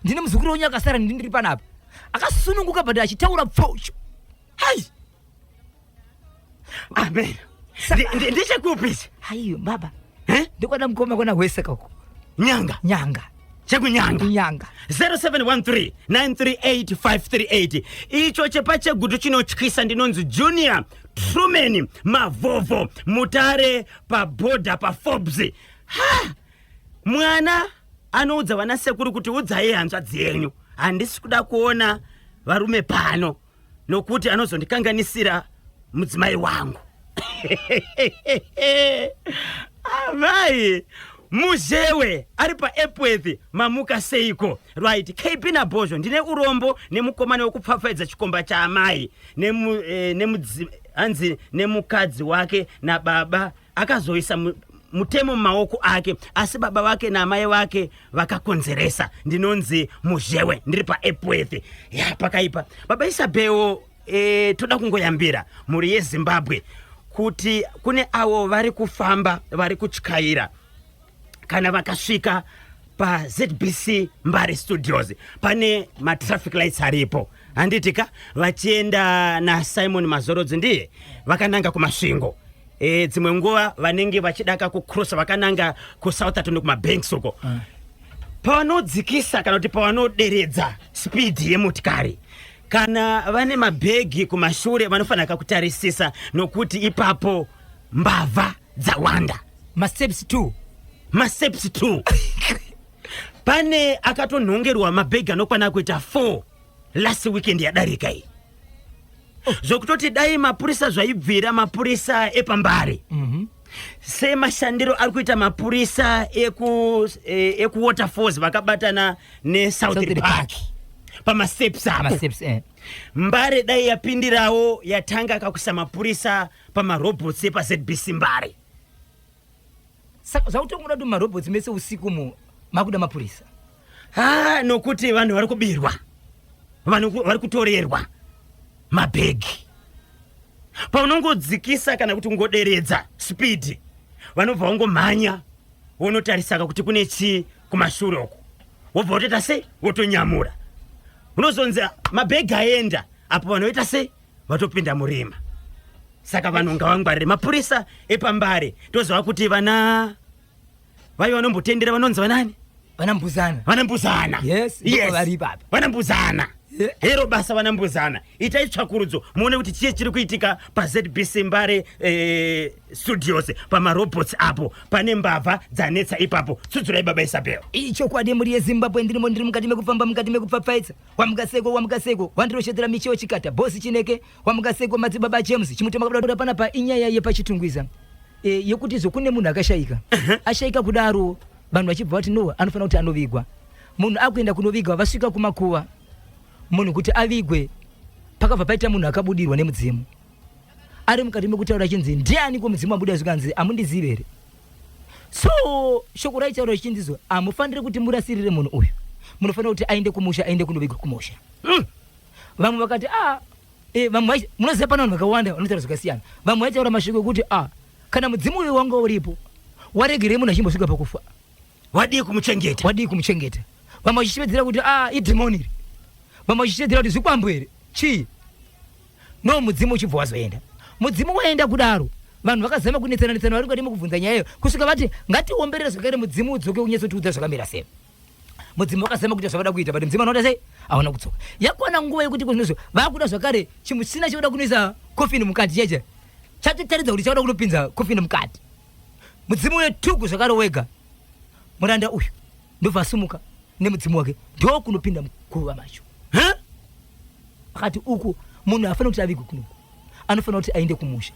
Speaker 2: Ndine muzukuru wenyu akasara ndiri panapa. Akasununguka but achitaura pfocho. Hai.
Speaker 1: Amen. Ndichekupisa. Hai baba.
Speaker 2: Eh? Ndikwada mkoma kona hwese kako. Nyanga. Nyanga. chekunyanga
Speaker 1: nyanga 0713938538 icho chepa chegutu chinotyisa ndinonzi junior truman mavovo mutare pabhodha paforbes ha mwana anoudza vana sekuru kuti udzai hanzva dzenyu handisi kuda kuona varume pano nokuti anozondikanganisira mudzimai wangu amai muzhewe ari paepworth mamuka seiko right kp nabhozho ndine urombo nemukomana wekupfapfaidza chikomba chaamai hanzi eh, nemukadzi wake nababa akazoisa mutemo mumaoko ake asi baba vake naamai vake vakakonzeresa ndinonzi muzhewe ndiri paepworth ya pakaipa baba isabhewo e, eh, toda kungoyambira mhuri yezimbabwe kuti kune avo vari kufamba vari kutyaira kana vakasvika pazbc mbare studios pane matraffic lights aripo handiti ka vachienda nasimon mazorodzi ndiye vakananga kumasvingo e, dzimwe nguva vanenge vachidaka kucrossa vakananga kusoutherton kumabanks uko mm. pavanodzikisa kana kuti pavanoderedza spidi yemotikari kana vane mabhegi kumashure vanofanira kakutarisisa nokuti ipapo mbavha dzawanda masteps two
Speaker 2: masteps two
Speaker 1: pane akatonhongerwa mabhegi anokwana kuita four last weekend yadarika iyi zvokutoti dai mapurisa zvaibvira mapurisa epambare mhm. semashandiro ari kuita mapurisa eh, ekuwater falls vakabatana nesouthern park pamasteps apo eh. mbare dai yapindirawo yatanga kakuisa mapurisa pamarobots epazbc mbare Saka
Speaker 2: zvakutongoda kuti marobotsi mese usiku mu makuda mapurisa. Ha,
Speaker 1: nokuti vanhu vari kubirwa. Vanhu vari kutorerwa mabhegi. Paunongodzikisa kana kuti ungoderedza speed, vanobva vangomhanya wonotarisaka kuti kune chii kumashure uko. Wobva wotoita sei? Wotonyamura. Unozonzi mabhegi aenda apo vanhu voita sei? vatopinda murima saka vanhu ngavangwarire mapurisa epambare toziva kuti vana vaive vanombotendera vanonzi vanani vanambuzana vanambuzana yes, yes.
Speaker 2: vari ipapa vanambuzana
Speaker 1: yeah. hero basa vanambuzana itai tsvakurudzo muone kuti chii chiri kuitika pazbc mbare eh, studios pamarobots apo pane mbavha dzanetsa ipapo tsudzurai baba isabel ichokwadi mhuri
Speaker 2: yezimbabwe ndirimo ndiri mukati mekufamba mukati mekupfapfaidza Wamugaseko Wamugaseko wandiroshodzera micheo chikata boss chineke Wamugaseko madzibaba James chimutema kuda pana pa inyaya yepachitungwiza e, yekuti zvokune munhu akashaika ashaika kudaro vanhu vachibva vati no anofanira kuti anovigwa munhu akuenda kunovigwa vasvika kumakuva munhu kuti avigwe pakabva paita munhu akabudirwa nemudzimu ari mukati mekutaura chinzi ndiani ko mudzimu abuda zvikanzi amundizive here so shoko raitaura richindizwa hamufaniri kuti murasirire munhu uyu munofanira kuti aende kumusha aende kunovigwa kumusha mm. vamwe vakati ah, e, vamwe munoziva pana vanhu vakawanda vanotaura zvakasiyana vamwe vaitaura mashoko ekuti ah, kana mudzimu uyo wanga uripo waregerei munhu achimbosvika pakufa wadii
Speaker 1: kumuchengeta wadii kumuchengeta vamwe vachishevedzera kuti ah, idhimoni iri vamwe vachishevedzera kuti zvikwambo here chii no mudzimu uchibva wazoenda mudzimu waenda kudaro vanhu vakazama kunetsana netsana vari kadi mukubvunza nyaya iyo kusvika vati ngatiomberere zvakare mudzimu udzoke unyatsotiudza zvakamira sei mudzimu
Speaker 2: wakazama kuita zvavada kuita but mudzimu anoda sei haona kudzoka yakwana nguva yekuti kunozvo vakuda zvakare chimuchina chinoda kunoisa kofini mukati cheche chatotaridza kuti chakuda kunopinza kofini mukati mudzimu uyo tuku zvakare wega muranda uyu ndobva asimuka nemudzimu wake ndokunopinda muguva macho akati uku munhu haafanira kuti avigwe kunoku anofanira kuti aende kumusha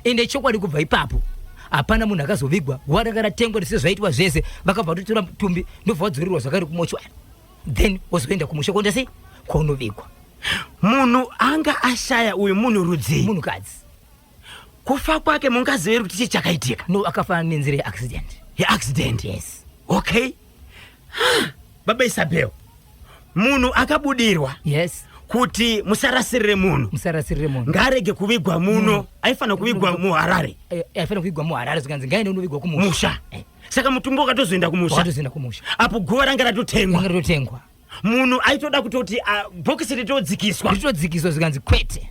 Speaker 2: ende chokwadi kubva ipapo hapana munhu akazovigwa guva ranga ratengwa ndise zvaitwa zvese vakabva vatotora mutumbi ndobva vadzorirwa zvakari kumochwari then wozoenda kumusha kuonda sei kwaunovigwa munhu
Speaker 1: anga ashaya uyu munhu rudzii munhukadzi kufa kwake mungaziva here kuti chii chakaitika no akafa nenzira
Speaker 2: yeaccident yeaccident
Speaker 1: yes
Speaker 2: okay
Speaker 1: baba isabel munhu akabudirwa yes kuti musarasirire munhu musarasirire munhu ngaarege kuvigwa muno mm. aifanira kuvigwa muharare eh, aifanira kuvigwa
Speaker 2: muharare zvikanzi ngaine unovigwa kumusha eh. saka mutumbo
Speaker 1: wakatozoenda kumushatozoenda kumusha apo guva ranga ratotengwa ratotengwa munhu aitoda kutoti ah, bhokisi ritodzikiswa ritodzikiswa zvikanzi
Speaker 2: kwete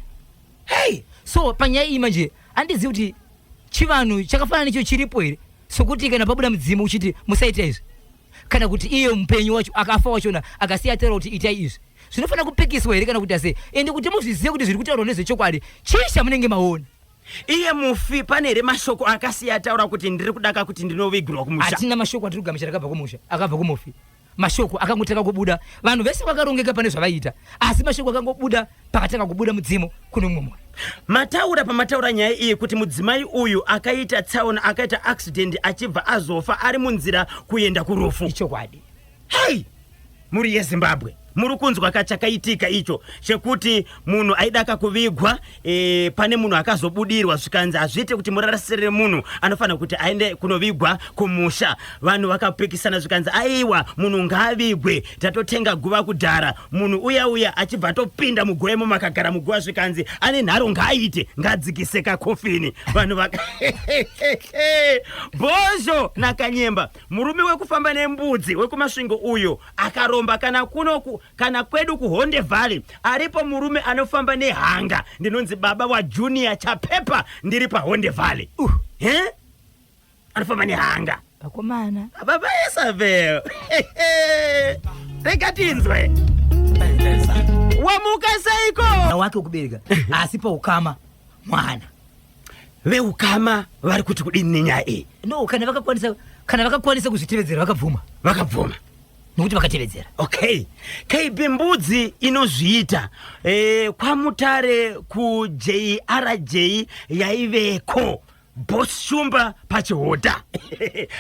Speaker 2: hey
Speaker 1: so panyaya iyi
Speaker 2: manje andizivi kuti chivanhu chakafanana necho chiripo here sokuti kana pabuda mudzimu uchiti musaita izvi kana kuti iye mupenyu wacho akafa wachona akasiya ataura kuti itai izvi zvinofanira kupikiswa here kana kuti ase ende kuti muzvizive kuti zviri kutaurwa nezvechokwadi chii chamunenge maona iye mufi
Speaker 1: pane here mashoko akasiya ataura kuti ndiri kudaka kuti ndinovigirwa kumusha hatina mashoko atiri kugamuchira
Speaker 2: akabva kumusha akabva kumufi mashoko akangotanga kubuda vanhu vese vakarongeka pane zvavaiita asi mashoko akangobuda pakatanga kubuda mudzimu kune mumwe mwana mataura pamataura
Speaker 1: nyaya iyi kuti mudzimai uyu akaita tsaona akaita accident achibva azofa ari munzira kuenda kurufu ichokwadi
Speaker 2: hei
Speaker 1: muri yezimbabwe muri kunzwa kachakaitika icho chekuti munhu aida kakuvigwa e, pane munhu akazobudirwa zvikanzi hazviite kuti murarasire munhu anofanira kuti aende kunovigwa kumusha vanhu vakapikisana zvikanzi aiwa munhu ngaavigwe tatotenga guva kudhara munhu uya uya achibva atopinda muguva imo makagara muguva zvikanzi ane nharo ngaaite ngaadzikise kakofini vanhu vaka bhozho nakanyemba murume wekufamba nembudzi wekumasvingo uyo akaromba kana kunoku Kana kwedu kuHonde Valley aripo murume anofamba nehanga ndinonzi baba waJunior Chapepa ndiri paHonde Valley. Uh. He? Anofamba nehanga. Vakomana.
Speaker 2: Baba Isabel.
Speaker 1: Rega tinzwe. Wamuka seiko? Wake ukubereka
Speaker 2: asi paukama mwana.
Speaker 1: veukama vari kuti kudini nenyaya iyi no kana vakakwanisa
Speaker 2: kana vakakwanisa kuzvitevedzera vakabvuma vakabvuma nokuti vakatevedzera okay
Speaker 1: kb mbudzi inozviita e, kwamutare kujrj yaiveko bos shumba pachihoda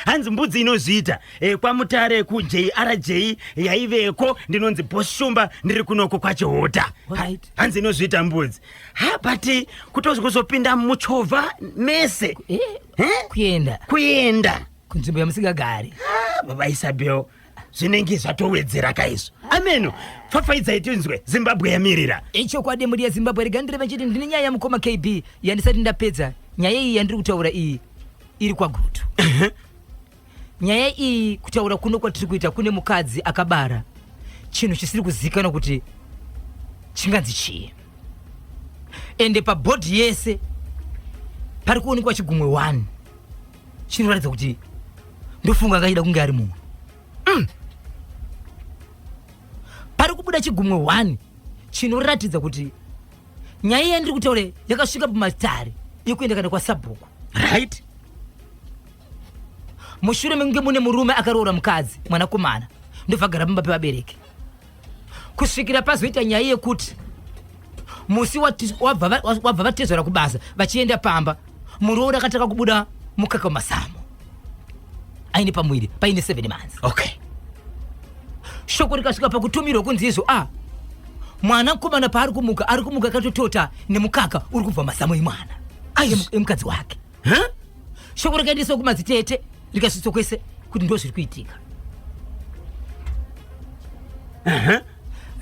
Speaker 1: hanzi mbudzi inozviita e, kwamutare kujrj yaiveko ndinonzi bos shumba ndiri kunoko kwachihoda right. hanzi inozviita mbudzi ha but kutozi kuzopinda muchovha mese eh, eh? kuenda kuenda kunzvimbo yamusingagari
Speaker 2: ah, baba isabel
Speaker 1: zvinenge zvatowedzera kaizvo ameno pfapfaidzai tinzwe zimbabwe yamirira ichokwadi eh, mhuri yezimbabwe
Speaker 2: rega ndiri vachiti ndine nyaya yamukoma kb yandisati ndapedza nyaya iyi yandiri kutaura iyi iri kwagutu Nyaya iyi kutaura kuno kwatiri kuita kune mukadzi akabara chinhu chisiri kuzivikanwa kuti chinganzi chii ende pabhodhi yese pari kuonekwa chigumwe one chinoratidza kuti ndofunga akaida kunge ari mumwe mm. pari kubuda chigumwe one chinoratidza kuti nyaya yandiri kutaura yakasvika pamatare yekuenda kana kwasabhuku right mushure mekunge mune murume akaroora mukadzi mwanakomana ndobva agara pamba pevabereki kusvikira pazoita nyaya yekuti musi wabva vatezvera kubasa vachienda pamba muroora akatanga kubuda mukaka wemazamu aine pamuviri paine seven months okay shoko rikasvika pakutumirwa kunzi izvo a ah, mwana mukomana paari kumuka ari kumuka akatotota nemukaka uri kubva mazamu emwana aye emukadzi wake ha shoko rakaendeswa kumadzitete rikasvitswa kwese kuti ndo zviri kuitika aha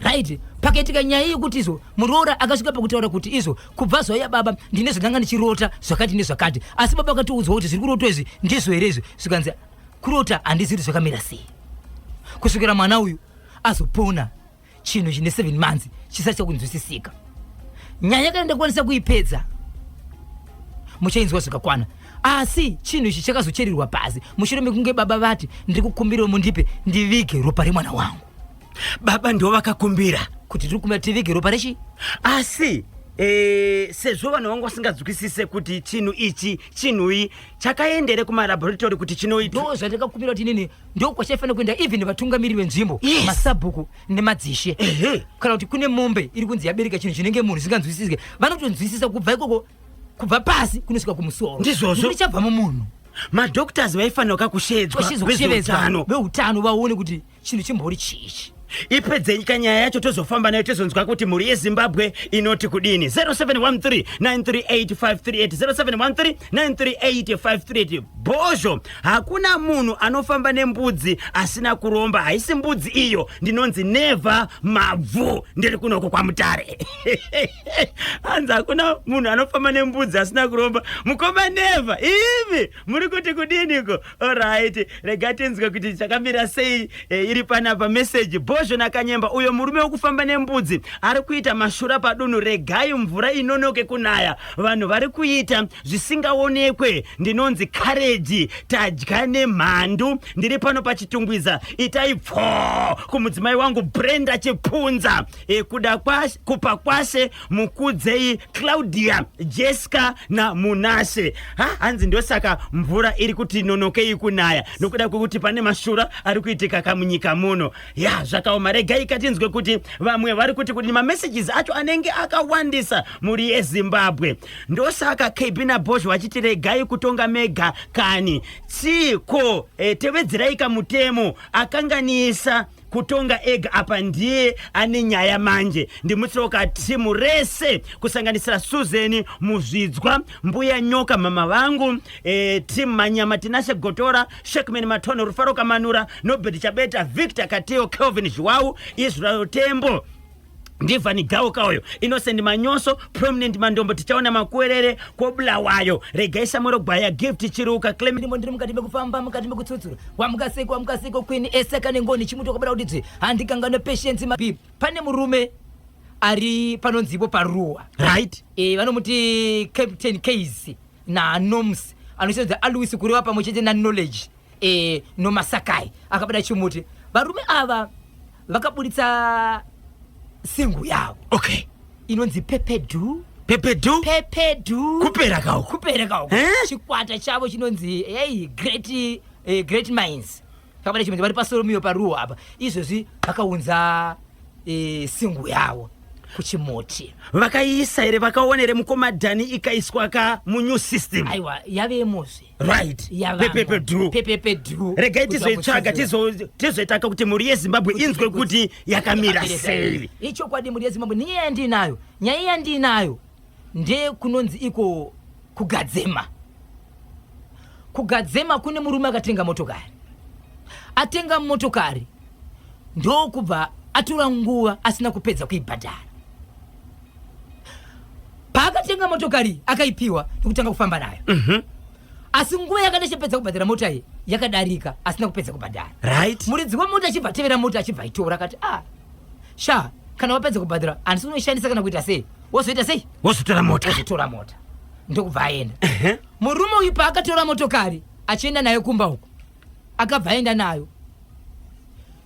Speaker 2: right pakaitika nyaya yekuti izvo muroora akasvika pakutaura kuti izvo kubva zvauya baba ndine zvandanga ndichirota zvakati nezvakati asi baba akatoudzwa kuti zviri kurotwa izvi ndizvo here izvi zvikanzi kurota handizivi kuti zvakamira sei kusvikira mwana uyu azopona chinhu chine seven months chisati chakunzwisisika nyaya kana ndakwanisa kuipedza muchainzwa zvakakwana asi chinhu ichi chakazocherirwa pasi mushure mekunge baba vati ndiri kukumbirawo mundipe ndivige ropa remwana wangu baba ndivo
Speaker 1: vakakumbira kuti tiri kumbira tivige
Speaker 2: ropa rechi asi
Speaker 1: e, sezvo vanhu vangu vasingadzwisise kuti chinhu ichi chinhui chakaendere kumalaboratory kuti chinoitwa ndo zvandakakumbira kuti inini
Speaker 2: ndokwachaifanira kuenda even vatungamiri venzvimbo yes. masabhuku nemadzishe kana kuti kune mombe iri kunzi yabereka chinhu chinenge munhu zvisinganzwisisike vanotonzwisisa kubva ikoko kubva pasi kunosvika kumusoro ndizvozvo richabva mumunhu madoctors
Speaker 1: vaifanira kakushedzwa vezveutano
Speaker 2: veutano vaone kuti chinhu chimbori chiichi ipedzenyi ka
Speaker 1: nyaya yacho tozofamba nayo tizonzwa kuti mhuri yezimbabwe inoti kudini 0713938538 0713938538 bhozho hakuna munhu anofamba nembudzi asina kuromba haisi mbudzi iyo ndinonzi neva mabvu ndiri kunoko kwamutare hanzi hakuna munhu anofamba nembudzi asina kuromba mukoma neva ivi muri kuti kudiniko orit rega tinzwe kuti chakamira sei e, iri panapa meseji bhozho nakanyemba uyo murume wekufamba nembudzi ari kuita mashura padunhu regai mvura inonoke kunaya vanhu vari kuita zvisingaonekwe ndinonzi kareji tadya nemhandu ndiri pano pachitungwiza itai pfoo kumudzimai wangu brenda chipunza e, kuda kwashe, kupa kwashe mukudzei claudia jesca namunashe ha hanzi ndosaka mvura iri kuti nonokei kunaya nokuda kwekuti pane mashura ari kuitika kamunyika muno ya zvakaoma regai katinzwe kuti vamwe vari kuti kuti mamessages acho anenge akawandisa mhuri yezimbabwe ndosaka kb nabosh vachiti regai kutonga mega kani chiko e, tevedzeraika mutemo akanganisa kutonga ega apa ndiye ane nyaya manje ndimutsoka timu rese kusanganisira suzeni muzvidzwa mbuya nyoka mama vangu e, timu manyama tinashe gotora shekman matono rufaro kamanura nobert chabeta victor katiyo kelvin zhiwawu israel tembo ndivani gauka uyo innocent manyoso prominent mandombo tichaona makuwerere kwobulawayo regai samwero gwaya gift chiruka clem ndimo ndiri mukati mekufamba
Speaker 2: mukati mekutsutsura wamukaseko wamukaseko queen eseka nengoni chimuti wakabada kuti dzve handikanganwe patience mabi pane murume ari panonzipo paruwa right e,
Speaker 1: vanomuti
Speaker 2: captain case nanoms anosenza aluis kureva pamwe chete naknowledge e, nomasakai akabata chimuti varume ava vakaburitsa singu yavo okay
Speaker 1: inonzi pepedu
Speaker 2: pepedu pepedu
Speaker 1: kupera kawo kupera kawo eh? chikwata
Speaker 2: chavo chinonzi hey, great, eh, great minds vakabata chimuti vari pasoromiyo paruwa apa izvozvi vakaunza eh, singu yavo kuchimuti vakaiisa
Speaker 1: here vakaona here mukoma dhani ikaiswa ka munew system aiwa yavemozve
Speaker 2: right
Speaker 1: pepepe dru pepepe
Speaker 2: dru regai tizoitsvaga
Speaker 1: tizoitaka kuti mhuri yezimbabwe inzwe kuti yakamira sei ichokwadi mhuri yezimbabwe
Speaker 2: nenyaya yandiinayo nyaya yandiinayo ndekunonzi iko kugadzema kugadzema kune murume akatenga motokari atenga motokari ndokubva atora nguva asina kupedza kuibhadhara paakatenga motokari akaipiwa nekutanga kufamba nayo mm -hmm. asi nguva yakati achipedza kubhadhara mota iyi yakadarika asina kupedza kubhadhara right. muridzi wemota
Speaker 1: achibva
Speaker 2: atevera mota achibva aitora akati ah, sha kana wapedza kubhadhara handisi unoishandisa kana kuita sei wozoita sei wozotora mota wozotora
Speaker 1: mota ndokubva
Speaker 2: aenda uh -huh. murume uyu paakatora motokari achienda nayo kumba uko akabva aenda nayo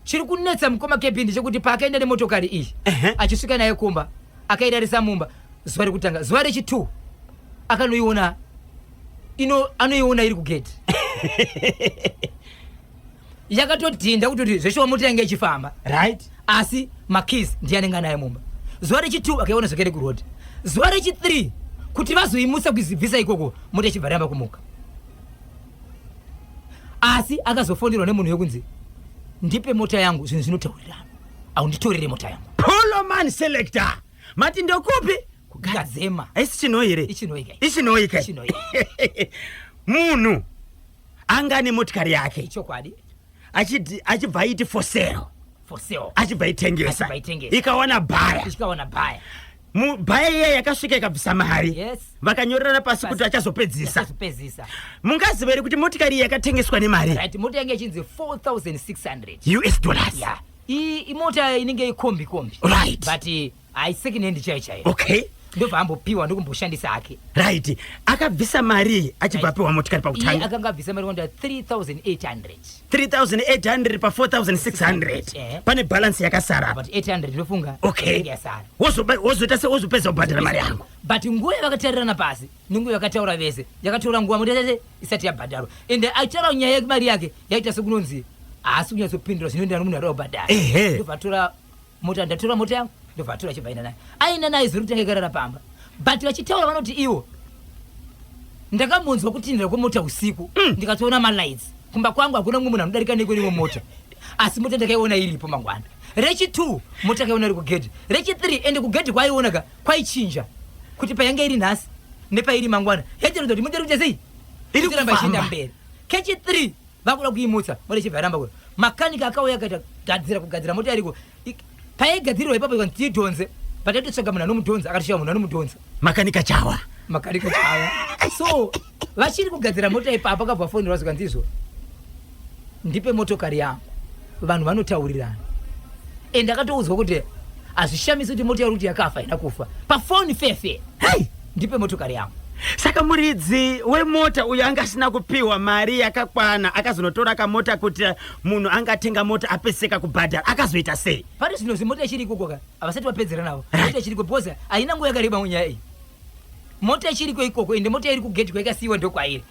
Speaker 2: chiri kunetsa mukoma kepi ndechekuti paakaenda nemotokari iyi achisvika naye kumba akairarisa mumba zuva rekutanga zuva rechitwo akanoiona ino anoiona iri kugedhi yakatodhinda kutoti zveshuwa mota yange ichifamba right asi makis ndiye anenge anaye mumba zuva rechitwo akaiona zvakare kuroad zuva rechithree kuti vazoimutsa kuizibvisa ikoko mota ichibva ramba kumuka asi akazofonerwa nemunhu wekunzi ndipe mota yangu zvinhu zvinotaurirana au nditorere mota yangu poloman selector
Speaker 1: mati ndokupi kugadzema
Speaker 2: haisi chinoi here
Speaker 1: ichinoika ichinoika munhu anga ane motikari yake chokwadi
Speaker 2: achiti
Speaker 1: achibva aiti for sale for sale achibva itengesa Achibva itengesa. ikawana bhaya ichikaona bhaya Mu- bhaya iya yakasvika ikabvisa mari Yes. vakanyorerana
Speaker 2: pasi kuti
Speaker 1: achazopedzisa achazopedzisa mungaziva here kuti motikari iyi yakatengeswa nemari right mota yange ichinzi
Speaker 2: 4600 us dollars
Speaker 1: yeah iyi
Speaker 2: imota inenge ikombi kombi Right.
Speaker 1: but
Speaker 2: eh, Hai second hand chaiyo chaiyo. Okay. Ndobva ambopiwa ndokumboshandisa hake. Right.
Speaker 1: Akabvisa mari achibva apiwa right. motikari pakutanga. Iye akanga abvisa mari kwanda
Speaker 2: 3800. 3800
Speaker 1: pa 4600. Eh. Pane balance yakasara. But 800 ndofunga.
Speaker 2: Okay. Yasara.
Speaker 1: Wozo
Speaker 2: wozo tase wozo
Speaker 1: pesa ubhadhara mari yangu. But nguva yakatarirana
Speaker 2: pasi, nungu yakataura vese. Yakatora nguva muda tese isati yabhadharwa. And aitaura nyaya yemari yake yaita sokunonzi. Asi kunyatso pindura zvinoenderana nomunhu ari obhadhara. Ehe. Ndovatora mota ndatora mota yangu ndobva atora achibva aenda naye aenda naye zuri kutanga ikarara pamba but vachitaura vanoti iwo ndakambonzwa kutinhira kwemota usiku mm. ndikatoona malights kumba kwangu hakuna mumwe munhu anodarika nekwenewo mota asi mota ndakaiona iripo mangwana rechi two mota akaiona iri kugedhi rechi three ende kugedhi kwaiona ka kwaichinja kuti payange iri nhasi nepairi mangwana yachiratidza kuti mota iri kuita sei iri kuramba ichienda mberi kechi three vakuda kuimutsa mota ichibva yaramba kuda makanika akauya akaita gadzira kugadzira mota iriko paigadzirirwa ipapo ikanzi tiidhonze pataitotsvaga munhu anomudhonza akatosvika munhu anomudhonza makanika chawa makanika chawa so vachiri kugadzira mota ipapo akabva fonirwa zvikanzi izvo ndipe motokari yangu vanhu vanotaurirana and ndakatoudzwa kuti hazvishamisi kuti motokari kuti yakafa haina kufa pafoni fefe hei ndipe motokari yangu saka muridzi
Speaker 1: wemota uyo anga asina kupiwa mari yakakwana akazonotora kamota kuti munhu anga atenga mota apeseka kubhadhara akazoita sei pari zvino zimota ichiri
Speaker 2: ikoko ka havasati vapedzera navo mota ichiri ikoko because haina nguva yakareba munyaya iyi mota ichiri ko ikoko ende mota iri kugeti kwaikasiyiwa ndokwairi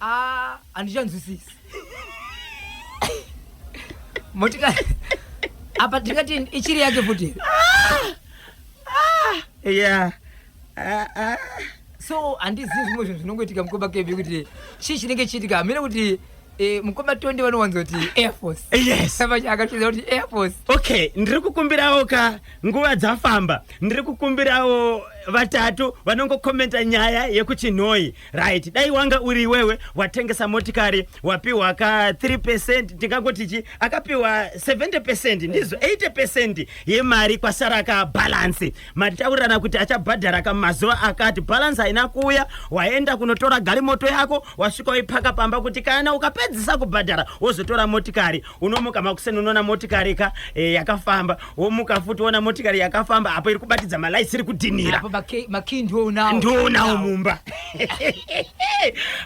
Speaker 1: Ah,
Speaker 2: handichanzwisisi. Motikari. Apa tingati ichiri yake futi. Ah! Ah!
Speaker 1: Yeah. Ah, ah.
Speaker 2: So handizivi zvimwe zvinhu zvinongoitika mukoma Kevin kuti chii chinenge chiitika hamene kuti Eh, mukoma tonde vanowanza kuti airforce yes savacha akatiza
Speaker 1: kuti
Speaker 2: airforce okay ndiri
Speaker 1: kukumbirawo ka nguva dzafamba ndiri kukumbirawo vatatu vanongokomenta nyaya yekuchinhoyi Right, dai wanga uri iwewe watengesa motikari wapiwa ka 3% ndingangoti chi akapiwa 70% ndizvo 80% yemari kwasara ka balance. Mataurirana kuti achabhadhara ka mazuva akati balance haina kuuya, waenda kunotora garimoto yako wasvika waipaka pamba kuti kana ukapedzisa kubhadhara wozotora motikari unomuka makuseni unoona motikari ka eh, yakafamba womuka futi woona motikari yakafamba apo iri kubatidza malaisi iri kudhinira Apo maki- makey ndoonawo.
Speaker 2: ndoonawo mumba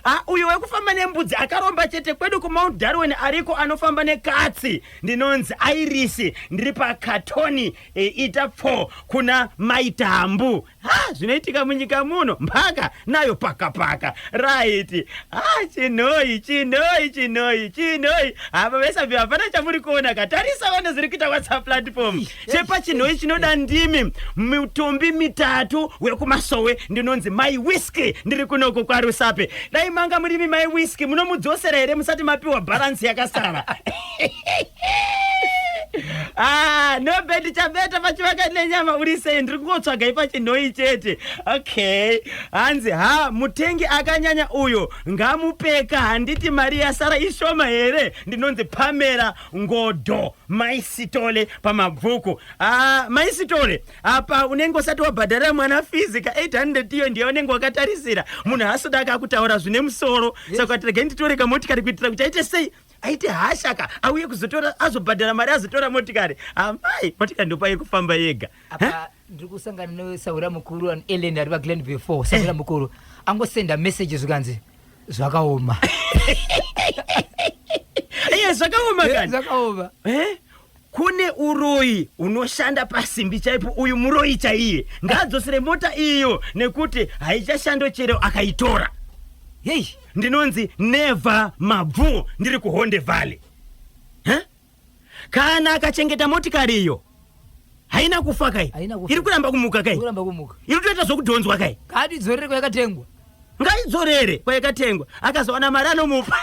Speaker 1: Ah, uyo wekufamba nembudzi akaromba chete kwedu kumount darwin ariko anofamba nekatsi ndinonzi airisi ndiri pakatoni e, ita pfo kuna maitambu Ha, zvinoitika munyika muno mhaka nayo paka paka right ha chinoi chinoi chinoi chinoi hava vesabi hapana chamuri kuona ka tarisa vane zviri kuita whatsapp platform chepa chinoi chinoda ndimi mitumbi mitatu wekumasowe ndinonzi mai whisky ndiri kunoko kwarusape dai manga murimi mai whisky munomudzosera here musati mapiwa bharansi yakasara Ah, no bed chabeta pachivaka nenyama uri sei ndiri kungotsvaga ipachinhoi chete okay hanzi ha mutengi akanyanya uyo ngamupeka handiti mari yasara ishoma here ndinonzi pamera ngodo maisitole pamabvuku ah, maisitole apa unenge usati wabhadharira mwana fizi ka 800 iyo ndiye unenge wakatarisira munhu hasoda akakutaura zvine musoro saka tirege nditore kamotikari kuitira kuti aite sei aite hasha ka auye kuzotora azobhadhara mari azotora motikari amai motikari ndopa yekufamba yega apa ndiri
Speaker 2: kusangana nesaura mukuru an ellen ari paglen before saura mukuru angosenda message zvikanzi zvakaoma
Speaker 1: iye zvakaoma kani zvakaoma
Speaker 2: eh? Kune
Speaker 1: uroyi unoshanda pasimbi chaipo uyu muroyi chaiye ngaadzosere mota iyo nekuti haichashando chero akaitora. Hey, ndinonzi never mabvuo ndiri kuHonde Valley. Huh? Kana akachengeta motikari iyo haina kufa kai? Haina kufa. Iri kuramba kumuka kai? Kuramba kumuka. Iri kutoita zvokudhonzwa kai? Kadi dzorere kwayakatengwa.
Speaker 2: Ngaidzorere
Speaker 1: kwayakatengwa. Akazowana mari anomupa.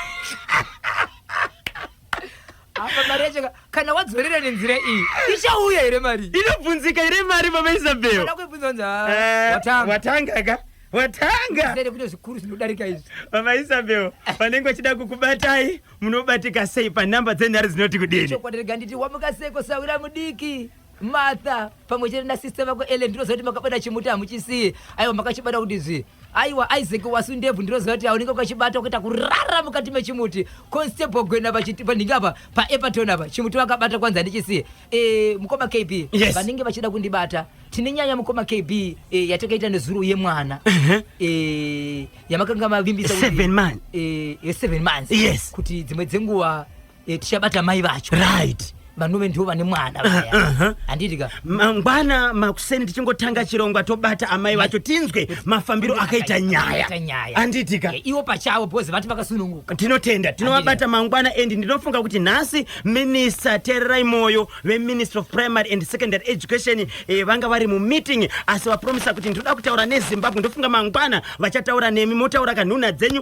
Speaker 2: apa mari yacho ka- kana wadzorera nenzira iyi ichauya here mari inobvunzika here mari
Speaker 1: baba isabel Kana kuibvunza kunzi, "Ah,
Speaker 2: Eh, watanga watanga
Speaker 1: ka watanga Zere kune zvikuru
Speaker 2: zvinodarika izvi baba isabel
Speaker 1: vanenge vachida kukubatai munobatika sei panhamba dzenhare dzinoti kudini chokwadi rega nditi wamuka
Speaker 2: seko sahwira mudiki Martha pamwe chete nasister vako Ellen ndinoziva kuti makabata chimuti hamuchisiye aiwa makachibata kuti zvi aiwa Isaac wasu ndebvu ndinoziva kuti haunenge ukachibata ukaita kurara mukati mechimuti constable gwena vachiti pandinge apa paepaton apa chimuti vakabata kwanzi handichisiye e, mukoma kb yes. vanenge vachida kundibata tine nyaya mukoma kb e, eh, yatakaita nezuro yemwana uh -huh. e, yamakanga mavimbisa seven, man.
Speaker 1: e, seven months
Speaker 2: yes. kuti dzimwe
Speaker 1: dzenguva
Speaker 2: Eh, tichabata mai vacho right vanove
Speaker 1: ndivo vane
Speaker 2: mwana vaya Uh-huh. handiti ka mangwana
Speaker 1: makuseni tichingotanga chirongwa tobata amai vacho tinzwe mafambiro akaita nyaya Akaita nyaya. handitika Eh, ivo pachavo
Speaker 2: because vati vakasununguka tinotenda tinovabata
Speaker 1: mangwana and ndinofunga kuti nhasi minista tererai moyo veministry of primary and secondary education eh, vanga vari mumeeting asi vapromisa kuti ndinoda kutaura nezimbabwe ndofunga mangwana vachataura nemi motaura kanhuna dzenyu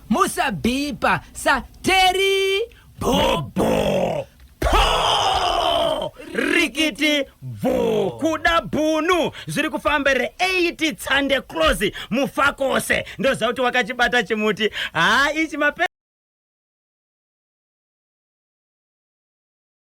Speaker 2: musabhipa sa teri bhobho
Speaker 1: pho rikiti bvu kuda bhunu zviri kufamba re 8 tsande close mufakose ndoziva kuti wakachibata chimuti haa ichi mape